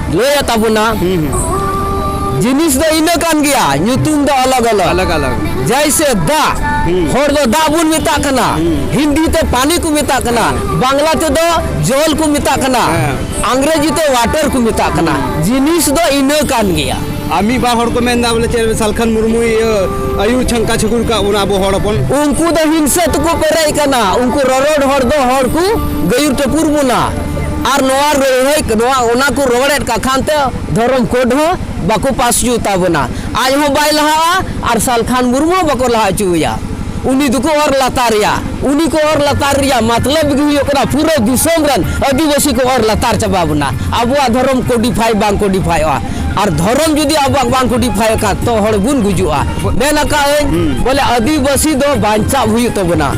ᱞᱟᱹᱭ ᱟᱛᱟ ᱵᱚᱱᱟ ᱡᱤᱱᱤᱥ ᱫᱚ ᱤᱱᱟᱹ ᱠᱟᱱ ᱜᱮᱭᱟ ᱧᱩᱛᱩᱢ ᱫᱚ ᱟᱞᱟᱜ ᱟᱞᱟᱜ ᱟᱞᱟᱜ ᱟᱞᱟᱜ ᱡᱟᱭᱥᱮ ᱫᱟᱜ ᱦᱚᱲ ᱫᱚ ᱫᱟᱜ ᱵᱚᱱ ᱢᱮᱛᱟᱜ ᱠᱟᱱᱟ ᱦᱤᱱᱫᱤ ᱛᱮ ᱯᱟᱱᱤ ᱠᱚ ᱢᱮᱛᱟᱜ ᱠᱟᱱᱟ ᱵᱟᱝᱞᱟ ᱛᱮᱫᱚ ᱡᱚᱞ ᱠᱚ ᱢᱮᱛᱟᱜ ᱠᱟᱱᱟ ᱟᱝᱜᱽᱨᱮᱡᱤ ᱛᱮ ᱣᱟᱴᱟᱨ ᱠᱚ ᱢᱮᱛᱟᱜ ᱠᱟᱱᱟ ᱡᱤᱱᱤᱥ ᱫᱚ ᱤᱱᱟᱹ ᱠᱟᱱ ᱜᱮᱭᱟ ᱟᱨ ᱢᱤᱫ ᱵᱟᱨ ᱦᱚᱲ ᱠᱚ ᱢᱮᱱᱫᱟ ᱵᱚᱞᱮ ᱪᱮᱫ ᱥᱟᱞᱠᱷᱟᱱ ᱢᱩᱨᱢᱩ ᱤᱭᱟᱹ ᱟᱭᱩᱨ ᱪᱷᱟᱝᱠᱟ ᱪᱷᱩᱠᱩᱨ ᱠᱟᱜ ᱵᱚᱱᱟ ᱟᱵᱚ ᱦᱚᱲ ᱦᱚᱯᱚᱱ ᱩᱱᱠᱩ ᱫᱚ ᱦᱤᱝᱥᱟᱹ ᱛᱮᱠᱚ ᱯᱮᱨᱮᱡ ᱠᱟᱱᱟ ᱩᱱᱠᱩ ᱨᱚᱨᱚᱲ ᱦᱚᱲ ᱫᱚ ᱦᱚᱲ ᱠᱚ ᱜᱟᱹᱭᱩᱨ ᱴᱟᱹᱯᱩᱨ ᱵᱚᱱᱟ ᱟᱨ ᱱᱚᱣᱟ ᱨᱚᱲᱦᱟᱹᱭ ᱱᱚᱣᱟ ᱚᱱᱟ ᱠᱚ ᱨᱚᱲᱮᱫ ᱠᱟᱜ ᱠᱷᱟᱱ ᱛᱮ ᱫᱷᱚᱨᱚᱢ ᱠᱳᱰ ᱦᱚᱸ ᱵᱟᱠᱚ ᱯᱟᱥ ᱦᱚᱪᱚ ᱛᱟᱵᱚᱱᱟ ᱟᱡ ᱦᱚᱸ ᱵᱟᱭ ᱞᱟᱦᱟᱜᱼᱟ ᱟᱨ ᱥᱟᱞᱠᱷᱟᱱ ᱢᱩᱨᱢᱩ ᱦᱚᱸ ᱵᱟᱠᱚ ᱞᱟᱦᱟ ᱦᱚᱪᱚᱣᱟᱭᱟ ᱩᱱᱤ ᱫᱚᱠᱚ ᱚᱨ ᱞᱟᱛᱟᱨᱮᱭᱟ ᱩᱱᱤ ᱠᱚ ᱚᱨ ᱞᱟᱛᱟᱨ ᱨᱮᱭᱟᱜ ᱢᱟᱛᱞᱟᱵ ᱜᱮ ᱦᱩᱭᱩᱜ ᱠᱟᱱᱟ ᱯᱩᱨᱟᱹ ᱫᱤᱥᱚᱢ ᱨᱮᱱ ᱟᱹᱫᱤᱵᱟᱹᱥᱤ ᱠᱚ ᱚᱨ ᱞᱟᱛᱟᱨ ᱪᱟᱵᱟ ᱵᱚᱱᱟ ᱟᱵᱚᱣᱟᱜ ᱫᱷᱚᱨᱚᱢ ᱠᱳᱰᱤᱯᱷᱟᱭ ᱵᱟᱝ ᱠᱳᱰᱤᱯᱷᱟᱭᱚᱜᱼᱟ ᱟᱨ ᱫᱷᱚᱨᱚᱢ ᱡᱩᱫᱤ ᱟᱵᱚᱣᱟᱜ ᱵᱟᱝ ᱠᱚᱰᱤᱯᱷᱟᱭ ᱠᱷᱟᱱ ᱛᱚ ᱦᱚᱲ ᱵᱚᱱ ᱜᱩᱡᱩᱜᱼᱟ ᱢᱮᱱ ᱟᱠᱟᱫ ᱟᱹᱧ ᱵᱚᱞᱮ ᱟᱹᱫᱤᱵᱟᱹᱥᱤ ᱫᱚ ᱵᱟᱧᱪᱟᱣ ᱦᱩᱭᱩᱜ ᱛᱟᱵᱚᱱᱟ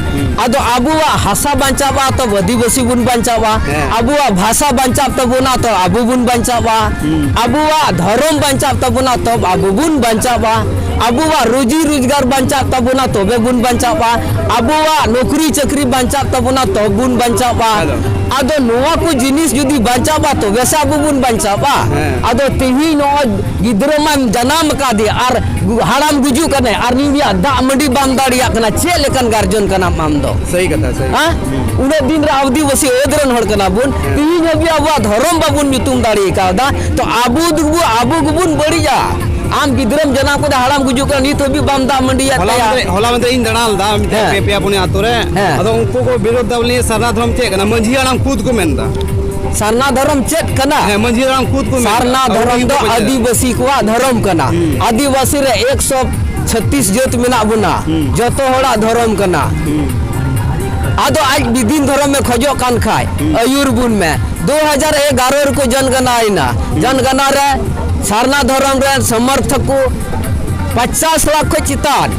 ᱟᱫᱚ ᱟᱵᱚᱣᱟᱜ ᱦᱟᱥᱟ ᱵᱟᱧᱪᱟᱣᱟ ᱛᱚ ᱟᱹᱫᱤᱵᱟᱹᱥᱤ ᱵᱚᱱ ᱵᱟᱧᱪᱟᱣᱟ ᱟᱵᱚᱣᱟᱜ ᱵᱷᱟᱥᱟ ᱵᱟᱧᱪᱟᱣ ᱛᱟᱵᱚᱱᱟ ᱛᱚ ᱟᱵᱚ ᱵᱚᱱ ᱵᱟᱧᱪᱟᱣᱟ ᱟᱵᱚᱣᱟᱜ ᱫᱷᱚᱨᱚᱢ ᱵᱟᱧᱪᱟᱣ ᱛᱟᱵᱚᱱᱟ ᱛᱚ ᱟᱵᱚ ᱵᱚᱱ ᱵᱟᱧᱪᱟᱣᱟ ᱟᱵᱚᱣᱟᱜ ᱨᱩᱡᱤ ᱨᱳᱡᱽᱜᱟᱨ ᱵᱟᱧᱪᱟᱣ ᱛᱟᱵᱚᱱᱟ ᱛᱚᱵᱮ ᱵᱚᱱ ᱵᱟᱧᱪᱟᱣᱟ ᱟᱵᱚᱣᱟᱜ ᱱᱚᱠᱨᱤ ᱪᱟᱹᱠᱨᱤ ᱵᱟᱧᱪᱟᱣ ᱛᱟᱵᱚᱱᱟ ᱛᱚ ᱵᱚᱱ ᱵᱟᱧᱪᱟᱣᱟ ᱟᱫᱚ ᱱᱚᱣᱟ ᱠᱚ ᱡᱤᱱᱤᱥ ᱡᱩᱫᱤ ᱵᱟᱧᱪᱟᱣᱟ ᱛᱚᱵᱮ ᱥᱮ ᱟᱵᱚ ᱵᱚᱱ ᱵᱟᱧᱪᱟᱣᱟ ᱦᱮᱸ ᱟᱫᱚ ᱛᱮᱦᱤᱧ ᱱᱚᱜᱼᱚᱭ ᱜᱤᱫᱽᱨᱟᱹ ᱢᱟᱢ ᱡᱟᱱᱟᱢ ᱟᱠᱟᱫᱮᱭᱟ ᱟᱨ ᱦᱟᱲᱟᱢ ᱜᱩᱡᱩᱜ ᱠᱟᱱᱟᱭ ᱟᱨ ᱱᱤᱭᱟᱹ ᱫᱟᱜ ᱢᱟᱹᱰᱤ ᱵᱟᱢ ᱫᱟᱲᱮᱭᱟᱜ ᱠᱟᱱᱟ ᱪᱮᱫ ᱞᱮᱠᱟᱱ ᱜᱟᱨᱡᱚᱱ ᱠᱟᱱᱟᱢ ᱟᱢ ᱫᱚ ᱥᱟᱹᱦᱤ ᱠᱟᱛᱷᱟ ᱥᱟᱹᱦᱤ ᱦᱮᱸ ᱩᱱᱟᱹᱜ ᱫᱤᱱ ᱨᱮ ᱟᱹᱫᱤᱵᱟᱹᱥᱤ ᱟᱹᱫ ᱨᱮᱱ ᱦᱚᱲ ᱠᱟᱱᱟ ᱵᱚᱱ ᱛᱮᱦᱤᱧ ᱦᱟᱹᱵᱤᱡ ᱟᱵᱚᱣᱟᱜ ᱫᱷᱚᱨᱚᱢ ᱵᱟᱵᱚᱱ ᱧᱩᱛᱩᱢ ᱫᱟᱲᱮ ᱠᱟᱣᱫᱟ ᱛᱚ ᱟᱵᱚ ᱫᱚᱵᱚ ᱟᱵᱚ ᱜᱮᱵᱚᱱ ᱵᱟᱹᱲᱤᱡᱟ ᱟᱢ ᱜᱤᱫᱽᱨᱟᱹᱢ ᱡᱟᱱᱟᱢ ᱠᱟᱫᱟ ᱦᱟᱲᱟᱢ ᱜᱩᱡᱩᱜ ᱠᱟᱱᱟ ᱱᱤᱛ ᱦᱟᱹᱵᱤᱡ ᱵᱟᱢ ᱫᱟᱜ ᱢᱟᱹᱰᱤᱭᱟᱜ ᱦᱚᱞᱟ ᱛᱟᱭᱟ ᱢᱟᱫᱷᱮᱨ ᱦᱚᱞᱟ ᱢᱟᱫᱷᱮᱨ ᱤᱧ ᱫᱟᱬᱟ ᱞᱮᱫᱟ ᱢᱤᱫᱴᱮᱱ ᱦᱮᱸ᱾ ᱯᱮ ᱯᱮᱭᱟ ᱯᱩᱱᱭᱟ ᱟᱛᱳ ᱨᱮ ᱦᱮᱸ᱾ ᱟᱫᱚ ᱩᱱᱠᱩ ᱠᱚ ᱵᱤᱨᱳᱫ ᱫᱟ ᱵᱚᱞᱮ ᱥᱟᱨᱱᱟ ᱫᱷᱚᱨᱚᱢ ᱪᱮᱫ ᱠᱟᱱᱟ ᱢᱟᱹᱡᱷᱤ ᱦᱟᱲᱟᱢ ᱠᱷᱩᱫ ᱠᱚ ᱢᱮᱱ ᱮᱫᱟ ᱥᱟᱨᱱᱟ ᱫᱷᱚᱨᱚᱢ ᱪᱮᱫ ᱠᱟᱱᱟ ᱦᱮᱸ ᱢᱟᱹᱡᱷᱤ ᱦᱟᱲᱟᱢ ᱠᱷᱩᱫ ᱠᱚ ᱥᱟᱨᱱᱟ ᱫᱷᱚᱨᱚᱢ ᱫᱚ ᱟᱹᱫᱤᱵᱟᱹᱥᱤ ᱠᱚᱣᱟᱜ ᱫᱷᱚᱨᱚᱢ ᱠᱟᱱᱟ ᱟᱹᱫᱤᱵᱟᱹᱥᱤ ᱨᱮ 136 ᱡᱟᱹᱛ ᱢᱮᱱᱟᱜ ᱵᱚᱱᱟ ᱡᱚᱛᱚ ᱦᱚᱲᱟᱜ ᱫᱷᱚᱨᱚᱢ ᱠᱟᱱᱟ ᱟᱫᱚ ᱟᱡ ᱵᱤᱫᱤᱱ ᱫᱷᱚᱨᱚᱢ ᱮ ᱠᱷᱚᱡᱚᱜ ᱠᱟᱱ ᱠᱷᱟᱡ ᱟᱹᱭᱩᱨ ᱵᱚᱱ ᱢᱮ 2011 ᱨᱮᱠᱚ ᱡᱚᱱᱜᱟᱱᱟᱭᱮᱱᱟ ᱡᱚᱱᱜᱟᱱᱟ ᱨᱮ ᱥᱟᱨᱱᱟ ᱫᱷᱚᱨᱚᱢ ᱨᱮᱱ ᱥᱚᱢᱚᱨᱛᱷᱚᱠ ᱠᱚ ᱯᱟᱪᱟᱥ ᱞᱟᱠᱷ ᱠᱷᱚᱡ ᱪᱮᱛᱟᱱ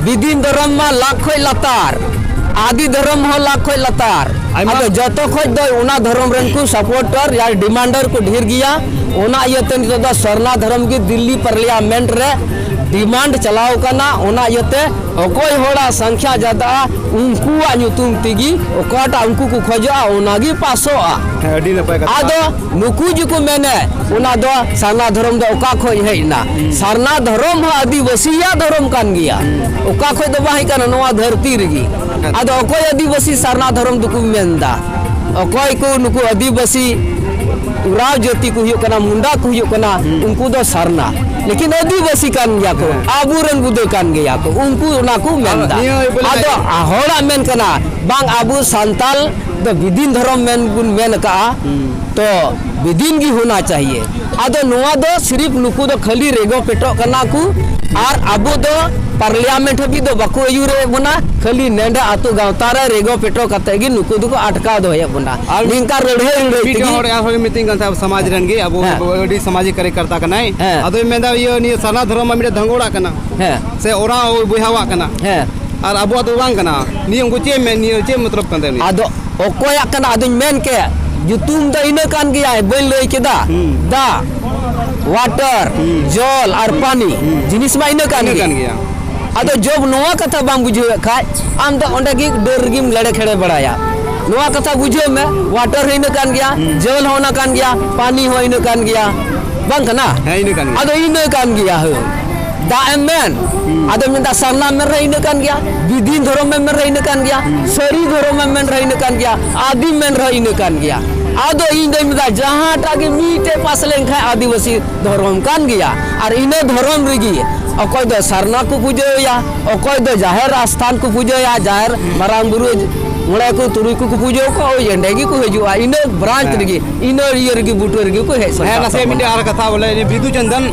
ᱵᱤᱫᱤᱱ ᱫᱷᱚᱨᱚᱢ ᱢᱟ ᱞᱟᱠᱷ ᱠᱷᱚᱡ ᱞᱟᱛᱟᱨ ᱟᱫᱤ ᱫᱷᱚᱨᱚᱢ ᱦᱚᱸ ᱞᱟᱠᱷ ᱠᱷᱚᱡ ᱞᱟᱛᱟᱨ ᱟᱫᱚ ᱡᱚᱛᱚ ᱠᱷᱚᱡ ᱫᱚ ᱚᱱᱟ ᱫᱷᱚᱨᱚᱢ ᱨᱮᱱ ᱠᱚ ᱥᱟᱯᱳᱨᱴᱟᱨ ᱭᱟ ᱰᱤᱢᱟᱱᱰᱟᱨ ᱠᱚ ᱰᱷᱮᱨ ᱜᱮᱭᱟ ᱚᱱᱟ ᱤᱭᱟᱹᱛᱮ ᱱᱤᱛᱚᱜ ᱫᱚ ᱥᱚᱨᱱᱟ ᱫᱷᱚᱨᱚᱢ ᱜᱮ ᱫᱤᱞᱞᱤ ᱯᱟᱨᱞᱤᱭᱟᱢᱮᱱᱴ ᱨᱮ ᱰᱤᱢᱟᱱᱰ ᱪᱟᱞᱟᱣ ᱠᱟᱱᱟ ᱚᱱᱟ ᱤᱭᱟᱹᱛᱮ ᱚᱠᱚᱭ ᱦᱚᱲᱟᱜ ᱥᱚᱝᱠᱷᱭᱟ ᱡᱟᱫᱟ ᱩᱱᱠᱩᱣᱟᱜ ᱧᱩᱛᱩᱢ ᱛᱮᱜᱮ ᱚᱠᱟᱴᱟᱜ ᱩᱱᱠᱩ ᱠᱚ ᱠᱷᱚᱡᱚᱜᱼᱟ ᱚᱱᱟᱜᱮ ᱯᱟᱥᱚᱜᱼᱟ ᱟᱹᱰᱤ ᱱᱟᱯᱟᱭ ᱠᱟᱛᱷᱟ ᱟᱫᱚ ᱱᱩᱠᱩ ᱡᱮᱠᱚ ᱢᱮᱱᱮ ᱚᱱᱟ ᱫᱚ ᱥᱟᱨᱱᱟ ᱫᱷᱚᱨᱚᱢ ᱫᱚ ᱚᱠᱟ ᱠᱷᱚᱡ ᱦᱮᱡ ᱮᱱᱟ ᱥᱟᱨᱱᱟ ᱫᱷᱚᱨᱚᱢ ᱦᱚᱸ ᱟᱹᱫᱤᱵᱟᱹᱥᱤᱭᱟᱜ ᱫᱷᱚᱨᱚᱢ ᱠᱟᱱ ᱜᱮᱭᱟ ᱚᱠᱟ ᱠᱷᱚᱡ ᱫᱚ ᱵᱟᱝ ᱦᱮᱡ ᱠᱟᱱᱟ ᱱᱚᱣᱟ ᱫᱷᱟᱹᱨᱛᱤ ᱨᱮᱜᱮ ᱟᱫᱚ ᱚᱠᱚᱭ ᱟᱹᱫᱤᱵᱟᱹᱥᱤ ᱥᱟᱨᱱᱟ ᱫᱷᱚᱨᱚᱢ ᱫᱚᱠᱚ ᱢᱮᱱᱫᱟ ᱚᱠᱚᱭ ᱠᱚ ᱱᱩᱠᱩ ᱟᱹᱫᱤᱵᱟᱹᱥᱤ ᱩᱨᱟᱣ ᱡᱟᱹᱛᱤ ᱠᱚ ᱦᱩᱭᱩᱜ ᱠᱟᱱᱟ ᱢᱩᱱᱰᱟ ᱠᱚ ᱦᱩᱭᱩᱜ ᱠᱟᱱᱟ ᱩᱱᱠᱩ ᱫᱚ ᱥᱟᱨᱱᱟ ᱞᱮᱠᱤᱱ ᱟᱹᱫᱤᱵᱟᱹᱥᱤ ᱠᱟᱱ ᱜᱮᱭᱟ ᱠᱚ ᱟᱵᱚ ᱨᱮᱱ ᱵᱩᱫᱟᱹ ᱠᱟᱱ ᱜᱮᱭᱟ ᱠᱚ ᱩᱱᱠᱩ ᱚᱱᱟ ᱠᱚ ᱢᱮᱱᱫᱟ ᱟᱫᱚ ᱦᱚᱲᱟᱜ ᱢᱮᱱ ᱠᱟᱱᱟ ᱵᱟᱝ ᱟᱵᱚ ᱥᱟᱱᱛᱟᱞ ᱫᱚ ᱵᱤᱫᱤᱱ ᱫᱷᱚᱨᱚᱢ ᱢᱮᱱ ᱵᱚᱱ ᱢᱮᱱ ᱟᱠᱟᱜᱼᱟ ᱛᱚ ᱵᱤᱫᱤᱱ ᱜᱮ ᱦᱳᱱᱟ ᱪᱟᱦᱤᱭᱮ ᱟᱫᱚ ᱱᱚᱣᱟ ᱫᱚ ᱥᱤᱨᱤᱯ ᱱᱩᱠᱩ ᱫᱚ ᱠᱷᱟᱹᱞᱤ ᱨᱮᱜᱚ ᱯᱮᱴᱚᱜ ᱠᱟᱱᱟ ᱠᱚ ᱟᱨ ᱟᱵᱚ ᱫᱚ ᱯᱟᱨᱞᱤᱭᱟᱢᱮᱱᱴ ᱦᱟᱹᱵᱤᱡ ᱫᱚ ᱵᱟᱠᱚ ᱟᱹᱭᱩᱨᱮᱫ ᱵᱚᱱᱟ ᱠᱷᱟᱹᱞᱤ ᱱᱮᱰᱮ ᱟᱛᱳ ᱜᱟᱶᱛᱟ ᱨᱮ ᱨᱮᱜᱚ ᱯᱮᱴᱚ ᱠᱟᱛᱮ ᱜᱮ ᱱᱩᱠᱩ ᱫᱚᱠᱚ ᱟᱴᱠᱟᱣ ᱫᱚᱦᱚᱭᱮᱫ ᱵᱚᱱᱟ ᱟᱨ ᱱᱤᱝᱠᱟ ᱞᱟᱹᱲᱦᱟᱹᱭ ᱞᱟᱹᱲᱦᱟᱹᱭ ᱢᱤᱫᱴᱮᱱ ᱦᱚᱲ ᱛᱮᱜᱮ ᱟᱨᱦᱚᱸ ᱢᱤᱛᱟᱹᱧ ᱠᱟᱱ ᱛᱟᱦᱮᱸᱫ ᱥᱚᱢᱟᱡᱽ ᱨᱮᱱ ᱜᱮ ᱟᱵᱚ ᱦᱮᱸ᱾ ᱟᱹᱰᱤ ᱥᱟᱢᱟᱡᱤᱠ ᱠᱟᱨᱭᱚᱠᱚᱨᱛᱟ ᱠᱟᱱᱟᱭ ᱦᱮᱸ᱾ ᱟᱫᱚᱭ ᱢᱮᱱᱫᱟ ᱤᱭᱟᱹ ᱱᱤᱭᱟᱹ ᱥᱟᱨᱱᱟ ᱫᱷᱚᱨᱚᱢ ᱢᱟ ᱢᱤᱫᱴᱮᱱ ᱫᱷᱟᱝᱜᱚᱲᱟᱜ ᱠᱟᱱᱟ ᱦᱮᱸ ᱥᱮ ᱚᱨᱟᱣ ᱵᱚᱭᱦᱟᱣᱟᱜ ᱠᱟᱱᱟ ᱦᱮᱸ ᱟᱨ ᱟᱵᱚᱣᱟᱜ ᱫᱚ ᱵᱟᱝ ᱠᱟᱱᱟ ᱱᱤᱭᱟᱹ ᱩᱱᱠᱩ ᱪᱮᱫ ᱢᱮᱱ ᱱᱤᱭᱟᱹ ᱪᱮᱫ ᱢᱚᱛᱞᱚᱵ ᱠᱟᱱ ᱛᱟᱭᱟ ᱟᱫᱚ ᱚᱠᱚᱭᱟᱜ ᱠᱟᱱᱟ ᱟᱫᱚᱧ ᱢᱮᱱ ᱠᱮ ᱧᱩᱛᱩᱢ ᱫᱚ ᱤᱱᱟᱹ ᱠᱟᱱ ᱜᱮᱭᱟ ᱵᱟᱹᱧ ᱞᱟᱹᱭ ᱠᱮᱫᱟ ᱫᱟ ᱣᱟᱴᱟᱨ ᱡᱚᱞ ᱟᱨ ᱯᱟᱱᱤ ᱡᱤᱱᱤᱥ ᱢᱟ ᱤᱱᱟᱹ ᱠᱟᱱ ᱜᱮᱭᱟ ᱟᱫᱚ ᱡᱚᱵ ᱱᱚᱣᱟ ᱠᱟᱛᱷᱟ ᱵᱟᱢ ᱵᱩᱡᱷᱟᱹᱣᱮᱫ ᱠᱷᱟᱡ ᱟᱢ ᱫᱚ ᱚᱸᱰᱮ ᱜᱮ ᱰᱟᱹᱨ ᱨᱮᱜᱮᱢ ᱞᱮᱲᱮ ᱠᱷᱮᱲᱮ ᱵᱟᱲᱟᱭᱟ ᱱᱚᱣᱟ ᱠᱟᱛᱷᱟ ᱵᱩᱡᱷᱟᱹᱣ ᱢᱮ ᱣᱟᱴᱟᱨ ᱦᱚᱸ ᱤᱱᱟᱹ ᱠᱟᱱ ᱜᱮᱭᱟ ᱡᱚᱞ ᱦᱚᱸ ᱚᱱᱟ ᱠᱟᱱ ᱜᱮᱭᱟ ᱯᱟᱱᱤ ᱦᱚᱸ ᱤᱱᱟᱹ ᱠᱟᱱ ᱜᱮᱭᱟ ᱵᱟᱝ ᱠᱟᱱᱟ ᱦᱮᱸ ᱤᱱᱟᱹ ᱠᱟᱱ ᱜᱮᱭᱟ ᱟᱫᱚ ᱤᱱᱟᱹ ᱠᱟᱱ ᱜᱮᱭᱟ ᱦᱳ ᱫᱟᱜ ᱮᱢ ᱢᱮᱱ ᱟᱫᱚ ᱢᱮᱱᱫᱟ ᱥᱟᱨᱱᱟᱢ ᱢᱮᱱ ᱨᱮ ᱤᱱᱟᱹ ᱠᱟᱱ ᱜᱮᱭᱟ ᱵᱤᱫᱤᱱ ᱫᱷᱚᱨᱚᱢ ᱮᱢ ᱢᱮᱱ ᱨᱮ ᱤᱱᱟᱹ ᱠᱟᱱ ᱜᱮᱭᱟ ᱥᱟᱹᱨᱤ ᱫᱷᱚᱨᱚᱢ ᱮᱢ ᱢᱮᱱ ᱨᱮ ᱤᱱᱟᱹ ᱠᱟᱱ ᱜᱮᱭᱟ ᱟᱫᱤᱢ ᱢᱮᱱ ᱨᱮ ᱤᱱᱟᱹ ᱠᱟᱱ ᱜᱮᱭᱟ ᱟᱫᱚ ᱤᱧ ᱫᱚᱧ ᱢᱮᱱᱫᱟ ᱡᱟᱦᱟᱸᱴᱟᱜ ᱜᱮ ᱢᱤᱫᱴᱮᱡ ᱯᱟᱥ ᱞᱮᱱᱠᱷᱟᱱ ᱟᱹᱫᱤᱵᱟᱹᱥᱤ ᱫᱷᱚᱨᱚᱢ ᱠᱟᱱ ᱜᱮᱭᱟ ᱟᱨ ᱤᱱᱟᱹ ᱫᱷᱚᱨᱚᱢ ᱨᱮᱜᱮ ᱚᱠᱚᱭ ᱫᱚ ᱥᱟᱨᱱᱟ ᱠᱚ ᱯᱩᱡᱟᱹᱭᱟ ᱚᱠᱚᱭ ᱫᱚ ᱡᱟᱦᱮᱨ ᱟᱥᱛᱷᱟᱱ ᱠᱚ ᱯᱩᱡᱟᱹᱭᱟ ᱡᱟᱦᱮᱨ ᱢᱟᱨᱟᱝ ᱵᱩᱨᱩ ᱢᱚᱬᱮ ᱠᱚ ᱛᱩᱨᱩᱭ ᱠᱚ ᱠᱚ ᱯᱩᱡᱟᱹ ᱠᱚᱣᱟ ᱳᱭ ᱮᱸᱰᱮ ᱜᱮᱠᱚ ᱦᱤᱡᱩᱜᱼᱟ ᱤᱱᱟᱹ ᱵᱨᱟᱱᱪ ᱨᱮᱜᱮ ᱤᱱᱟᱹ ᱤᱭᱟᱹ ᱨᱮᱜᱮ ᱵᱩᱴᱟᱹ ᱨᱮᱜᱮ ᱠᱚ ᱦᱮᱡ ᱥᱟᱱᱛᱟᱲ ᱦᱮᱸ ᱱᱟᱥᱮ ᱢᱤᱫᱴᱮᱡ ᱟᱨ ᱠᱟᱛᱷᱟ ᱵᱚᱞᱮ ᱵᱤᱫᱩ ᱪᱟᱸᱫᱟᱱ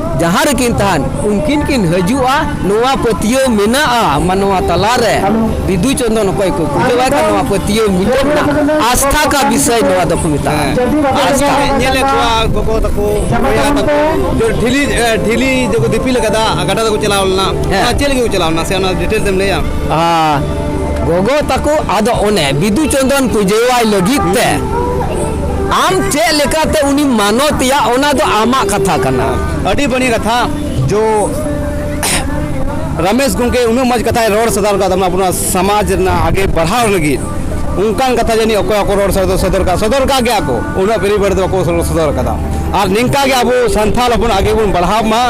ᱡᱟᱦᱟᱸ ᱨᱮᱠᱤᱱ ᱛᱟᱦᱮᱱ ᱩᱱᱠᱤᱱ ᱠᱤᱱ ᱦᱤᱡᱩᱜᱼᱟ ᱱᱚᱣᱟ ᱯᱟᱹᱛᱭᱟᱹᱣ ᱢᱮᱱᱟᱜᱼᱟ ᱢᱟᱱᱣᱟ ᱛᱟᱞᱟᱨᱮ ᱵᱤᱫᱩ ᱪᱚᱱᱫᱚᱱ ᱚᱠᱚᱭ ᱠᱚ ᱠᱩᱞᱟᱹᱣᱟᱭ ᱠᱟᱱ ᱱᱚᱣᱟ ᱯᱟᱹᱛᱭᱟᱹᱣ ᱢᱤᱫᱴᱟᱝ ᱢᱮᱱᱟᱜᱼᱟ ᱟᱥᱛᱷᱟ ᱠᱟ ᱵᱤᱥᱚᱭ ᱱᱚᱣᱟ ᱫᱚᱠᱚ ᱢᱮᱛᱟᱜᱼᱟ ᱟᱥᱛᱷᱟ ᱧᱮᱞᱮᱫ ᱠᱚᱣᱟ ᱜᱚᱜᱚ ᱛᱟᱠᱚ ᱵᱚᱭᱦᱟ ᱛᱟᱠᱚ ᱰᱷᱤᱞᱤ ᱰᱷᱤᱞᱤ ᱡᱮᱠᱚ ᱫᱤᱯᱤᱞ ᱟᱠᱟᱫᱟ ᱜᱟᱰᱟ ᱛᱮᱠᱚ ᱪᱟᱞᱟᱣ ᱞᱮᱱᱟ ᱚᱱᱟ ᱪᱮᱫ ᱞᱟᱹᱜᱤᱫ ᱠᱚ ᱪᱟᱞᱟᱣ ᱞᱮᱱᱟ ᱥᱮ ᱚᱱᱟ ᱰᱤᱴᱮᱞ ᱛᱮᱢ ᱞᱟᱹᱭᱟ ᱜᱚᱜᱚ ᱛᱟᱠᱚ ᱟᱫᱚ ᱚᱱᱮ ᱵᱤᱫᱩ ᱪᱚᱱᱫᱚᱱ ᱯᱩᱡᱟᱹᱣᱟᱭ ᱞᱟᱹᱜᱤᱫ ᱛᱮ ᱟᱢ ᱪᱮᱫ ᱞᱮᱠᱟᱛᱮ ᱩᱱᱤ ᱢᱟᱱᱚᱛᱮᱭᱟ ᱚᱱᱟ ᱫᱚ ᱟᱢᱟᱜ ᱠᱟᱛᱷᱟ ᱠᱟᱱᱟ ᱟᱹᱰᱤ ᱵᱟᱹᱲᱤᱡ ᱠᱟᱛᱷᱟ ᱡᱚ ᱨᱟᱢᱮᱥ ᱜᱚᱢᱠᱮ ᱩᱱᱟᱹᱜ ᱢᱚᱡᱽ ᱠᱟᱛᱷᱟᱭ ᱨᱚᱲ ᱥᱚᱫᱚᱨ ᱠᱟᱫ ᱛᱟᱵᱚᱱᱟ ᱟᱵᱚᱱᱟᱜ ᱥᱚᱢᱟᱡᱽ ᱨᱮᱱᱟᱜ ᱟᱜᱮ ᱵᱟᱲᱦᱟᱣ ᱞᱟᱹᱜᱤᱫ ᱚᱱᱠᱟᱱ ᱠᱟᱛᱷᱟ ᱡᱟᱹᱱᱤᱡ ᱚᱠᱚᱭ ᱦᱚᱸᱠᱚ ᱨᱚᱲ ᱥᱚᱫᱚᱨ ᱥᱚᱫᱚᱨ ᱠᱟᱜ ᱥᱚᱫᱚᱨ ᱠᱟᱜ ᱜᱮᱭᱟ ᱠᱚ ᱩᱱᱟᱹᱜ ᱵᱮᱨᱤ ᱵᱟᱹᱲ ᱫᱚ ᱵᱟᱠᱚ ᱥᱚᱫᱚᱨ ᱠᱟᱫᱟ ᱟᱨ ᱱᱤᱝᱠᱟ ᱜᱮ ᱟᱵᱚ ᱥᱟᱱᱛᱟᱲ ᱦᱚᱯᱚᱱ ᱟᱜᱮ ᱵᱚᱱ ᱵᱟᱲᱦᱟᱣ ᱢᱟ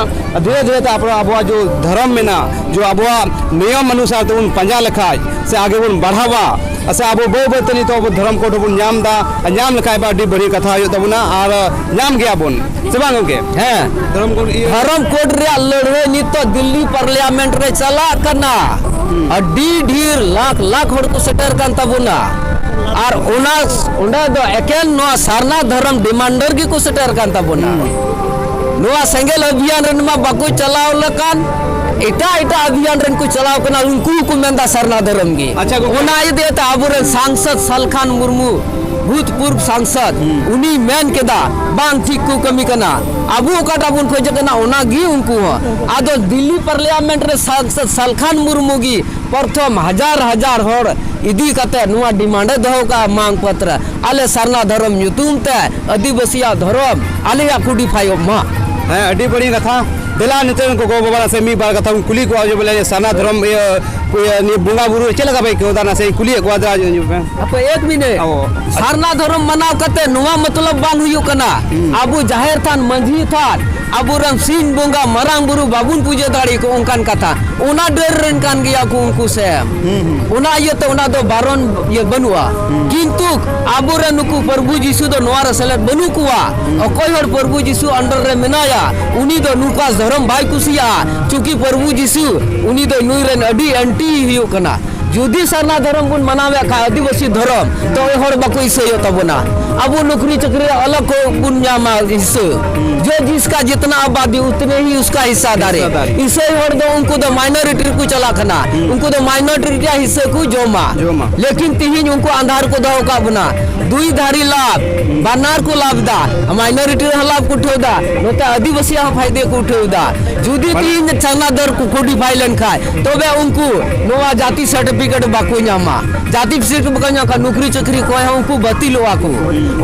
ᱫᱷᱤᱨᱮ ᱫᱷᱤᱨᱮ ᱛᱮ ᱟᱵᱚ ᱟᱵᱚᱣᱟᱜ ᱡᱚ ᱫᱷᱚᱨᱚᱢ ᱢᱮᱱᱟᱜᱼᱟ ᱡᱚ ᱟᱵᱚᱣᱟᱜ ᱱᱤᱭᱚᱢ ᱚᱱᱩᱥᱟᱨ ᱛᱮᱵᱚᱱ ᱯᱟᱸᱡᱟ ᱞᱮᱠᱷᱟᱡ ᱥᱮ ᱟᱜᱮ ᱵᱚᱱ ᱵᱟᱲᱦᱟᱣᱟ ᱟᱪᱪᱷᱟ ᱟᱵᱚ ᱵᱟᱹᱭ ᱵᱟᱹᱭᱛᱮ ᱱᱤᱛᱚᱜ ᱟᱵᱚ ᱫᱷᱚᱨᱚᱢ ᱠᱳᱰ ᱦᱚᱸᱵᱚᱱ ᱧᱟᱢ ᱮᱫᱟ ᱟᱨ ᱧᱟᱢ ᱞᱮᱠᱷᱟᱡ ᱵᱟ ᱟᱹᱰᱤ ᱵᱟᱹᱲᱤᱡ ᱠᱟᱛᱷᱟ ᱦᱩᱭᱩᱜ ᱛᱟᱵᱚᱱᱟ ᱟᱨ ᱧᱟᱢ ᱜᱮᱭᱟᱵᱚᱱ ᱥᱮ ᱵᱟᱝ ᱜᱚᱝᱠᱮ ᱦᱮᱸ ᱫᱷᱚᱨᱚᱢ ᱠᱳᱰ ᱤᱭᱟᱹ ᱫᱷᱚᱨᱚᱢ ᱠᱳᱰ ᱨᱮᱭᱟᱜ ᱞᱟᱹᱲᱦᱟᱹᱭ ᱱᱤᱛᱚᱜ ᱫᱤᱞᱞᱤ ᱯᱟᱨᱞᱤᱭᱟᱢᱮᱱᱴ ᱨᱮ ᱪᱟᱞᱟᱜ ᱠᱟᱱᱟ ᱟᱹᱰᱤ ᱰᱷᱮᱨ ᱞᱟᱠᱷ ᱞᱟᱠᱷ ᱦᱚᱲ ᱠᱚ ᱥᱮᱴᱮᱨ ᱠᱟᱱ ᱛᱟᱵᱚᱱᱟ ᱟᱨ ᱚᱱᱟ ᱚᱸᱰᱮ ᱫᱚ ᱮᱠᱮᱱ ᱱᱚᱣᱟ ᱥᱟᱨᱱᱟ ᱫᱷᱚᱨᱚᱢ ᱰᱤᱢᱟᱱᱰᱟᱨ ᱜᱮᱠᱚ ᱥᱮᱴᱮᱨ ᱠᱟᱱ ᱛᱟᱵᱚᱱᱟ ᱱᱚᱣᱟ ᱥᱮᱸᱜᱮᱞ ᱚᱵᱷᱤᱭᱟᱱ ᱨᱮᱱ ᱢᱟ ᱵᱟᱠᱚ ᱪᱟᱞᱟᱣ ᱞᱮᱠᱟᱱ ᱮᱴᱟᱜ ᱮᱴᱟᱜ ᱚᱵᱷᱤᱭᱟᱱ ᱨᱮᱱ ᱠᱚ ᱪᱟᱞᱟᱣ ᱠᱟᱱᱟ ᱩᱱᱠᱩ ᱦᱚᱸᱠᱚ ᱢᱮᱱᱫᱟ ᱥᱟᱨᱱᱟ ᱫᱷᱚᱨᱚᱢ ᱜᱮ ᱟᱪᱪᱷᱟ ᱜᱚᱝᱠᱮ᱾ ᱚᱱᱟ ᱤᱫᱤ ᱠᱟᱛᱮ ᱟᱵᱚᱨᱮᱱ ᱥᱟᱝᱥᱚᱫ ᱥᱟᱞᱠᱷᱟᱱ ᱢᱩᱨᱢᱩ ᱵᱷᱩᱛᱯᱩᱨᱵ ᱥᱟᱝᱥᱚᱫ ᱩᱱᱤ ᱢᱮᱱ ᱠᱮᱫᱟ ᱵᱟᱝ ᱴᱷᱤᱠ ᱠᱚ ᱠᱟᱹᱢᱤ ᱠᱟᱱᱟ ᱟᱵᱚ ᱚᱠᱟᱴᱟᱜ ᱵᱚᱱ ᱠᱷᱚᱡᱚᱜ ᱠᱟᱱᱟ ᱚᱱᱟ ᱜᱮ ᱩᱱᱠᱩ ᱦᱚᱸ ᱟᱫᱚ ᱫᱤᱞᱞᱤ ᱯᱟᱨᱞᱤᱭᱟᱢᱮᱱᱴ ᱨᱮ ᱥᱟᱝᱥᱚᱫ ᱥᱟᱞᱠᱷᱟᱱ ᱢᱩᱨᱢᱩ ᱜᱮ ᱯᱨᱚᱛᱷᱚᱢ ᱦᱟᱡᱟᱨ ᱦᱟᱡᱟᱨ ᱦᱚᱲ ᱤᱫᱤ ᱠᱟᱛᱮ ᱱᱚᱣᱟ ᱰᱤᱢᱟᱱᱰ ᱮ ᱫᱚᱦᱚ ᱠᱟᱜᱼᱟ ᱢᱟᱝ ᱯᱚᱛᱨᱚ ᱟᱞᱮ ᱥᱟᱨᱱᱟ ᱫᱷᱚᱨᱚᱢ ᱧᱩᱛᱩᱢ ᱛᱮ ᱟᱹᱫᱤᱵᱟᱹᱥᱤᱭᱟᱜ ᱫᱷᱚᱨᱚᱢ ᱟᱞᱮᱭᱟᱜ ᱠᱚᱰᱤᱯᱷᱟᱭᱚᱜ ᱢᱟ ᱦᱮᱸ ᱟᱹᱰᱤ ᱵᱟᱹᱲᱤᱡ ᱠᱟᱛᱷᱟ ᱫᱮᱞᱟ ᱱᱤᱛᱚᱜ ᱜᱚᱜᱚ ᱵᱟᱵᱟ ᱱᱟᱥᱮ ᱢᱤᱫ ᱵᱟᱨ ᱠᱟᱛᱷᱟ ᱵᱚᱱ ᱠᱩᱞᱤ ᱠᱚᱣᱟ ᱡᱮ ᱵᱚᱞᱮ ᱥᱟᱨᱱᱟ ᱫᱷᱚᱨᱚᱢ ᱤᱭᱟᱹ ᱱᱤᱭᱟᱹ ᱵᱚᱸᱜᱟ ᱵᱩᱨᱩ ᱪᱮᱫ ᱞᱮᱠᱟ ᱯᱮ ᱟᱹᱭᱠᱟᱹᱣ ᱮᱫᱟ ᱱᱟᱥᱮ ᱠᱩᱞᱤᱭᱮᱫ ᱠᱚᱣᱟ ᱫᱟ ᱟᱯᱮ ᱮᱠ ᱢᱤᱱᱤᱴ ᱥᱟᱨᱱᱟ ᱫᱷᱚᱨᱚᱢ ᱢᱟᱱᱟᱣ ᱠᱟᱛᱮ ᱱᱚᱣᱟ ᱢᱚᱛᱞᱚᱵ ᱵᱟᱝ ᱦᱩᱭᱩᱜ ᱠᱟᱱᱟ ᱟᱵᱚ ᱡᱟᱦᱮᱨ ᱛᱷᱟᱱ ᱢᱟᱹᱡᱷᱤ ᱛᱷᱟᱱ ᱟᱵᱚᱨᱮᱱ ᱥᱤᱧ ᱵᱚᱸᱜᱟ ᱢᱟᱨᱟᱝ ᱵᱩᱨᱩ ᱵᱟᱵᱚᱱ ᱯᱩᱡᱟᱹ ᱫᱟᱲᱮ ᱠᱚ ᱚᱱᱠᱟᱱ ᱠᱟᱛᱷᱟ ᱚᱱᱟ ᱰᱟᱹᱨ ᱨᱮᱱ ᱠᱟᱱ ᱜᱮᱭᱟ ᱠᱚ ᱩᱱᱠᱩ ᱥᱮ ᱚᱱᱟ ᱤᱭᱟᱹᱛᱮ ᱚᱱᱟ ᱫᱚ ᱵᱟᱨᱚᱱ ᱤᱭᱟᱹ ᱵᱟᱹᱱᱩᱜᱼᱟ ᱠᱤᱱᱛᱩ ᱟᱵᱚᱨᱮᱱ ᱱᱩᱠᱩ ᱯᱨᱚᱵᱷᱩ ᱡᱤᱥᱩ ᱫᱚ ᱱᱚᱣᱟ ᱨᱮ ᱥᱮᱞᱮᱫ ᱵᱟᱹᱱᱩᱜ ᱠᱚᱣᱟ ᱚᱠᱚᱭ ᱦᱚᱲ ᱯᱨᱚᱵᱷᱩ ᱡᱤᱥᱩ ᱟᱱᱰᱟᱨ ᱨᱮ ᱢᱮᱱᱟᱭᱟ ᱩᱱᱤ ᱫᱚ ᱱᱩᱠᱟ ᱫᱷᱚᱨᱚᱢ ᱵᱟᱭ ᱠᱩᱥᱤᱭᱟᱜᱼᱟ ᱪᱩᱠᱤ ᱯᱨᱚᱵᱷᱩ ᱡᱤᱥᱩ ᱩᱱᱤ ᱫᱚ ᱱᱩᱭ ᱨᱮᱱ ᱟᱹᱰᱤ ᱮᱱᱴᱤ ᱦᱩᱭᱩᱜ ᱠᱟᱱᱟ ᱡᱩᱫᱤ ᱥᱟᱨᱱᱟ ᱫᱷᱚᱨᱚᱢ ᱵᱚᱱ ᱢᱟᱱᱟᱣᱮᱫ ᱠᱷᱟᱱ ᱟᱹᱫᱤᱵᱟᱹᱥᱤ ᱫᱷᱚᱨᱚᱢ ᱛᱚ ᱦᱚᱲ ᱵᱟᱠᱚ ᱤᱥᱟᱹᱭᱚᱜ ᱛᱟᱵᱚᱱᱟ ᱟᱵᱚ ᱱᱚᱠᱨᱤ ᱪᱟᱹᱠᱨᱤ ᱟᱞᱟᱜ ᱠᱚ ᱵᱚᱱ ᱧᱟᱢᱟ ᱤᱥᱟᱹ ᱡᱚ ᱡᱤᱥᱠᱟ ᱡᱤᱛᱱᱟ ᱟᱵᱟᱫᱤ ᱩᱛᱱᱮ ᱦᱤ ᱩᱥᱠᱟ ᱦᱤᱥᱥᱟ ᱫᱟᱨᱮ ᱤᱥᱟᱹᱭ ᱦᱚᱲ ᱫᱚ ᱩᱱᱠᱩ ᱫᱚ ᱢᱟᱭᱱᱚᱨᱤᱴᱤ ᱨᱮᱠᱚ ᱪᱟᱞᱟᱜ ᱠᱟᱱᱟ ᱩᱱᱠᱩ ᱫᱚ ᱢᱟᱭᱱᱚᱨᱤᱴᱤ ᱨᱮᱭᱟᱜ ᱦᱤᱥᱥᱟᱹ ᱠᱚ ᱡᱚᱢᱟ ᱞᱮᱠᱤᱱ ᱛᱤᱦᱤᱧ ᱩᱱᱠᱩ ᱟᱸᱫᱷᱟᱨ ᱠᱚ ᱫᱚᱦᱚ ᱠᱟᱜ ᱵᱚᱱᱟ ᱫᱩᱭ ᱫᱷᱟᱨᱤ ᱞᱟᱵᱷ ᱵᱟᱱᱟᱨ ᱠᱚ ᱞᱟᱵᱷ ᱫᱟ ᱢᱟᱭᱱᱚᱨᱤᱴᱤ ᱨᱮᱦᱚᱸ ᱞᱟᱵᱷ ᱠᱚ ᱩᱴᱷᱟᱹᱣ ᱫᱟ ᱱᱚᱛᱮ ᱟᱹᱫᱤᱵᱟᱹᱥᱤᱭᱟᱜ ᱦᱚᱸ ᱯᱷᱟᱭᱫᱮ ᱠᱚ ᱩᱴᱷᱟᱹᱣ ᱮᱫᱟ ᱡᱩᱫᱤ ᱛᱤᱦᱤᱧ ᱪᱟᱸᱜᱟ ᱫᱚᱨ ᱠᱚ ᱠᱳᱰᱤᱯᱷᱟᱭ ᱞᱮᱱᱠᱷᱟᱡ ᱛᱚᱵᱮ ᱩᱱᱠᱩ ᱱᱚᱣᱟ ᱡᱟᱹᱛᱤ ᱥᱟᱨᱴᱤᱯᱷᱤᱠᱮᱴ ᱵᱟᱠᱚ ᱧᱟᱢᱟ ᱡᱟᱹᱛᱤ ᱥᱟᱨᱴᱤᱯᱷᱤᱠᱮᱴ ᱵᱟᱠᱚ ᱧᱟᱢ ᱠᱷᱟᱡ ᱱᱩᱠᱨᱤ ᱪᱟᱹᱠᱨᱤ ᱠᱚᱭ ᱦᱚᱸ ᱩᱱᱠᱩ ᱵᱟᱹᱛᱤᱞᱚᱜᱼᱟ ᱠᱚ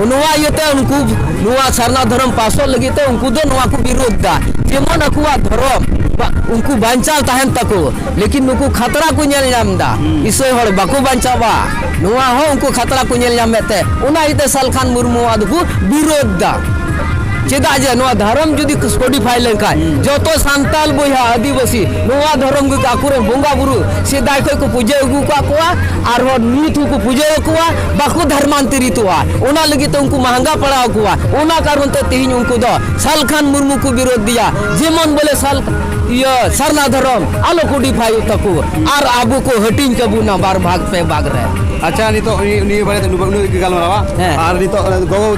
ᱱᱚᱣᱟ ᱤᱭᱟᱹᱛᱮ ᱩᱱᱠᱩ ᱱᱚᱣᱟ ᱥᱟᱨᱱᱟ ᱫᱷᱚᱨᱚᱢ ᱯᱟᱥᱚᱜ ᱞᱟᱹᱜᱤᱫ ᱛᱮ ᱩᱱᱠᱩ ᱫᱚ ᱱᱚᱣᱟ ᱠᱚ ᱵᱤᱨᱳᱫᱷ ᱮᱫᱟ ᱡᱮᱢᱚᱱ ᱟᱠᱚᱣᱟᱜ ᱫᱷᱚᱨᱚᱢ ᱩᱱᱠᱩ ᱵᱟᱧᱪᱟᱣ ᱛᱟᱦᱮᱱ ᱛᱟᱠᱚ ᱞᱮᱠᱤᱱ ᱱᱩᱠᱩ ᱠᱷᱟᱛᱨᱟ ᱠᱚ ᱧᱮᱞ ᱧᱟᱢ ᱮᱫᱟ ᱤᱥᱟᱹᱭ ᱦᱚᱲ ᱵᱟᱠᱚ ᱵᱟᱧᱪᱟᱣᱟ ᱱᱚᱣᱟ ᱦᱚᱸ ᱩᱱᱠᱩ ᱠᱷᱟᱛᱨᱟ ᱠᱚ ᱧᱮᱞ ᱧᱟᱢᱮᱫ ᱛᱮ ᱚᱱᱟ ᱤᱭᱟᱹᱛᱮ ᱥᱟᱞᱠᱷᱟᱱ ᱢᱩᱨᱢᱩᱣᱟᱜ ᱫᱚᱠᱚ ᱵᱤᱨᱳᱫᱷ ᱮᱫᱟ ᱪᱮᱫᱟᱜ ᱡᱮ ᱱᱚᱣᱟ ᱫᱷᱚᱨᱚᱢ ᱡᱩᱫᱤ ᱠᱚᱰᱤᱯᱷᱟᱭ ᱞᱮᱱᱠᱷᱟᱱ ᱡᱚᱛᱚ ᱥᱟᱱᱛᱟᱞ ᱵᱚᱭᱦᱟ ᱟᱹᱫᱤᱵᱟᱹᱥᱤ ᱱᱚᱣᱟ ᱫᱷᱚᱨᱚᱢ ᱜᱮ ᱟᱠᱚᱨᱮ ᱵᱚᱸᱜᱟ ᱵᱩᱨᱩ ᱥᱮᱫᱟᱭ ᱠᱷᱚᱱ ᱠᱚ ᱯᱩᱡᱟᱹ ᱟᱹᱜᱩ ᱠᱟᱜ ᱠᱚᱣᱟ ᱟᱨ ᱦᱚᱲ ᱱᱤᱛ ᱦᱚᱸᱠᱚ ᱯᱩᱡᱟᱹ ᱟᱠᱚᱣᱟ ᱵᱟᱠᱚ ᱫᱷᱚᱨᱢᱟᱱᱛᱚᱨᱤᱛᱚᱜᱼᱟ ᱚᱱᱟ ᱞᱟᱹᱜᱤᱫ ᱛᱮ ᱩᱱᱠᱩ ᱢᱟᱦᱟᱸᱜᱟ ᱯᱟᱲᱟᱣ ᱠᱚᱣᱟ ᱚᱱᱟ ᱠᱟᱨᱚᱱ ᱛᱮ ᱛᱮᱦᱮᱧ ᱩᱱᱠᱩ ᱫᱚ ᱥᱟᱞᱠᱷᱟᱱ ᱢᱩᱨᱢᱩ ᱠᱚ ᱵᱤᱨᱳᱫᱷ ᱫᱤᱭᱟ ᱡᱮᱢᱚᱱ ᱵᱚᱞᱮ ᱥᱟᱞ ᱤᱭᱟᱹ ᱥᱟᱨᱱᱟ ᱫᱷᱚᱨᱚᱢ ᱟᱞᱚ ᱠᱚᱰᱤᱯᱷᱟᱭ ᱛᱟᱠᱚ ᱟᱨ ᱟᱵᱚ ᱠᱚ ᱦᱟᱹᱴᱤᱧ ᱠᱟᱵᱚᱱᱟ ᱵᱟᱨ ᱵᱷᱟᱜᱽ ᱯᱮ ᱵᱷᱟᱜᱽ ᱨᱮ ᱟᱪᱪᱷᱟ ᱱᱤᱛᱚᱜ ᱱᱤᱭᱟᱹ ᱵᱟᱨᱮ ᱛᱮ ᱱᱩᱱᱟᱹᱜ ᱜᱟᱞᱢᱟᱨᱟᱣᱟ ᱟᱨ ᱱᱤᱛᱚᱜ ᱜᱚᱜᱚ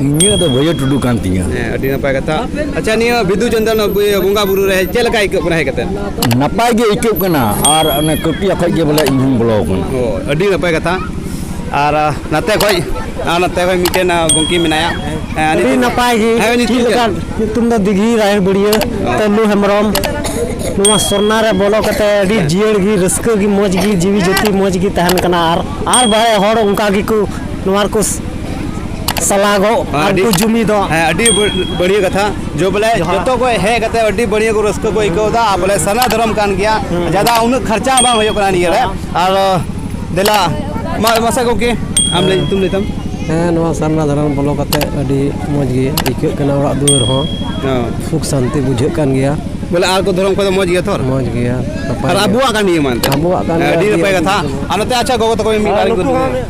ᱤᱧᱟᱹᱜ ᱫᱚ ᱵᱷᱟᱹᱭᱟᱹ ᱴᱩᱰᱩ ᱠᱟᱱ ᱛᱤᱧᱟᱹ ᱦᱮᱸ ᱟᱹᱰᱤ ᱱᱟᱯᱟᱭ ᱠᱟᱛᱷᱟ ᱟᱪᱪᱷᱟ ᱱᱤᱭᱟᱹ ᱵᱤᱫᱩ ᱪᱟᱸᱫᱟᱱ ᱵᱚᱸᱜᱟ ᱵᱩᱨᱩ ᱨᱮ ᱪᱮᱫ ᱞᱮᱠᱟ ᱟᱹᱭᱠᱟᱹᱜ ᱠᱟᱱᱟ ᱦᱮᱡ ᱠᱟᱛᱮ ᱱᱟᱯᱟᱭ ᱜᱮ ᱟᱹᱭᱠᱟᱹᱜ ᱠᱟᱱᱟ ᱟᱨ ᱚᱱᱮ ᱠᱟᱹᱯᱤᱭᱟ ᱠᱷᱚᱡ ᱜᱮ ᱵᱚᱞᱮ ᱤᱧ ᱦᱚᱸᱧ ᱵᱚᱞᱚ ᱠᱟᱱᱟ ᱚ ᱟᱹᱰᱤ ᱱᱟᱯᱟᱭ ᱠᱟᱛᱷᱟ ᱟᱨ ᱱᱟᱛᱮ ᱠᱷᱚᱡ ᱟᱨ ᱱᱟᱛᱮ ᱠᱷᱚᱡ ᱢᱤᱫᱴᱮᱱ ᱜᱚᱝᱠᱮ ᱢᱮᱱᱟᱭᱟ ᱦᱮᱸ, ᱟᱹᱰᱤ ᱱᱤᱛᱚᱜ- ᱱᱟᱯᱟᱭ ᱜᱮ ᱦᱮᱸ ᱪᱮᱫ ᱧᱩᱛᱩᱢ ᱞᱮᱠᱟ ᱪᱮᱫ? ᱧᱩᱛᱩᱢ ᱫᱚ ᱫᱤᱜᱷᱤ ᱨᱟᱭᱮᱲ ᱵᱩᱲᱤᱭᱟᱹ ᱛᱟᱹᱞᱩ ᱦᱮᱢᱵᱨᱚᱢ ᱱᱚᱣᱟ ᱥᱚᱨᱱᱟ ᱨᱮ ᱵᱚᱞᱚ ᱠᱟᱛᱮ ᱟᱹᱰᱤ ᱡᱤᱭᱟᱹᱲ ᱜᱮ ᱨᱟᱹᱥᱠᱟᱹ ᱜᱮ ᱢᱚᱡᱽ ᱜᱮ ᱡᱤᱣᱤ ᱡᱟᱹᱛᱤ ᱢᱚᱡᱽ ᱜᱮ ᱛᱟᱦᱮᱱ ᱠᱟᱱᱟ ᱟᱨ ᱟᱨ ᱵᱟᱦᱮ ᱦᱚᱲ ᱚᱱᱠᱟ ᱜᱮᱠᱚ ᱱᱚᱣᱟ ᱨᱮᱠᱚ ᱥᱟᱞᱟᱜᱚ ᱟᱨ ᱠᱚ ᱡᱩᱢᱤᱫᱚᱜ ᱦᱮᱸ ᱟᱹᱰᱤ ᱵᱟᱹᱲᱤᱭᱟᱹ ᱠᱟᱛᱷᱟ ᱡᱚ ᱵᱚᱞᱮ ᱡᱚᱛᱚ ᱠᱚ ᱦᱮᱡ ᱠᱟᱛᱮ ᱟᱹᱰᱤ ᱵᱟᱹᱲᱤᱭᱟᱹ ᱠᱚ ᱨᱟᱹᱥᱠᱟᱹ ᱠᱚ ᱟᱹᱭᱠᱟᱹᱣ ᱮᱫᱟ ᱟᱨ ᱵᱚᱞᱮ ᱥᱟᱨᱱᱟ ᱫᱷᱚᱨᱚᱢ ᱠᱟᱱ ᱜᱮᱭᱟ ᱡᱟᱫᱟ ᱩᱱᱟᱹᱜ ᱠᱷᱚᱨᱪᱟ ᱦᱚᱸ ᱵᱟᱝ ᱦᱩᱭᱩᱜ ᱠᱟᱱᱟ ᱱᱤᱭᱟᱹ ᱨᱮ ᱟᱨ ᱫᱮᱞᱟ ᱢᱟ ᱢᱟᱥᱮ ᱜᱚᱢᱠᱮ ᱟᱢ ᱞᱟᱹᱭ ᱧᱩᱛᱩᱢ ᱞᱟᱹᱭ ᱛᱟᱢ ᱦᱮᱸ ᱱᱚᱣᱟ ᱥᱟᱨᱱᱟ ᱫᱷᱚᱨᱚᱢ ᱵᱚᱞᱚ ᱠᱟᱛᱮ ᱟᱹᱰᱤ ᱢᱚᱡᱽ ᱜᱮ ᱟᱹᱭᱠᱟᱹᱜ ᱠᱟᱱᱟ ᱚᱲᱟᱜ ᱫᱩᱣᱟᱹᱨ ᱦᱚᱸ ᱥᱩᱠ ᱥᱟᱱᱛᱤ ᱵᱩᱡᱷᱟᱹᱜ ᱠᱟᱱ ᱜᱮᱭᱟ ᱵᱚᱞᱮ ᱟᱨ ᱠᱚ ᱫᱷᱚᱨᱚᱢ ᱠᱚᱫᱚ ᱢᱚᱡᱽ ᱜᱮᱭᱟ ᱛᱚ ᱢᱚᱡᱽ ᱜᱮᱭᱟ ᱟᱨ ᱟᱵᱚᱣᱟᱜ ᱠᱟᱱ ᱜᱮᱭᱟ ᱢᱟᱱ ᱟᱵᱚᱣᱟᱜ ᱠᱟᱱ ᱜᱮᱭᱟ ᱟᱹᱰᱤ ᱱᱟᱯᱟᱭ ᱠᱟᱛᱷᱟ ᱟᱨ ᱱᱚᱛᱮ ᱟᱪᱪᱷᱟ ᱜᱚᱜᱚ ᱛᱟᱠᱚ ᱢᱤᱫ ᱵᱟᱨ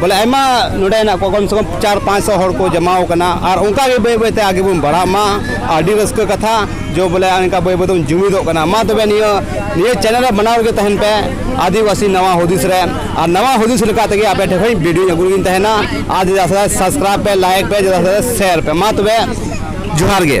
ᱵᱚᱞᱮ ᱟᱭᱢᱟ ᱱᱚᱰᱮ ᱦᱮᱱᱟᱜ ᱠᱚᱣᱟ ᱠᱚᱢ ᱥᱮ ᱠᱚᱢ ᱪᱟᱨ ᱯᱟᱸᱪ ᱥᱚ ᱦᱚᱲ ᱠᱚ ᱡᱟᱢᱟᱣ ᱠᱟᱱᱟ ᱟᱨ ᱚᱱᱠᱟ ᱜᱮ ᱵᱟᱹᱭ ᱵᱟᱹᱭᱛᱮ ᱟᱜᱮ ᱵᱚᱱ ᱵᱟᱲᱦᱟᱜ ᱢᱟ ᱟᱹᱰᱤ ᱨᱟᱹᱥᱠᱟᱹ ᱠᱟᱛᱷᱟ ᱡᱚ ᱵᱚᱞᱮ ᱚᱱᱠᱟ ᱵᱟᱹᱭ ᱵᱟᱹᱭ ᱛᱮᱵᱚᱱ ᱡᱩᱢᱤᱫᱚᱜ ᱠᱟᱱᱟ ᱢᱟ ᱛᱚᱵᱮ ᱱᱤᱭᱟᱹ ᱱᱤᱭᱟᱹ ᱪᱮᱱᱮᱞ ᱨᱮ ᱵᱟᱱᱟᱣ ᱨᱮᱜᱮ ᱛᱟᱦᱮᱱ ᱯᱮ ᱟᱹᱫᱤᱵᱟᱹᱥᱤ ᱱᱟᱣᱟ ᱦᱩᱫᱤᱥ ᱨᱮ ᱟᱨ ᱱᱟᱣᱟ ᱦᱩᱫᱤᱥ ᱞᱮᱠᱟ ᱛᱮᱜᱮ ᱟᱯᱮ ᱴᱷᱮᱱ ᱠᱷᱚᱱ ᱵᱷᱤᱰᱤᱭᱳ ᱟᱹᱜᱩ ᱨᱮᱜᱤᱧ ᱛᱟᱦᱮᱱᱟ ᱟᱨ ᱡᱮᱫᱟ ᱥᱟᱵᱥᱠᱨᱟᱭᱤᱵ ᱯᱮ ᱞᱟᱭᱤᱠ ᱯᱮ ᱡᱮᱫᱟ ᱥᱮᱭᱟᱨ ᱯᱮ ᱢᱟ ᱛᱚᱵᱮ ᱡᱚᱦᱟᱨ ᱜᱮ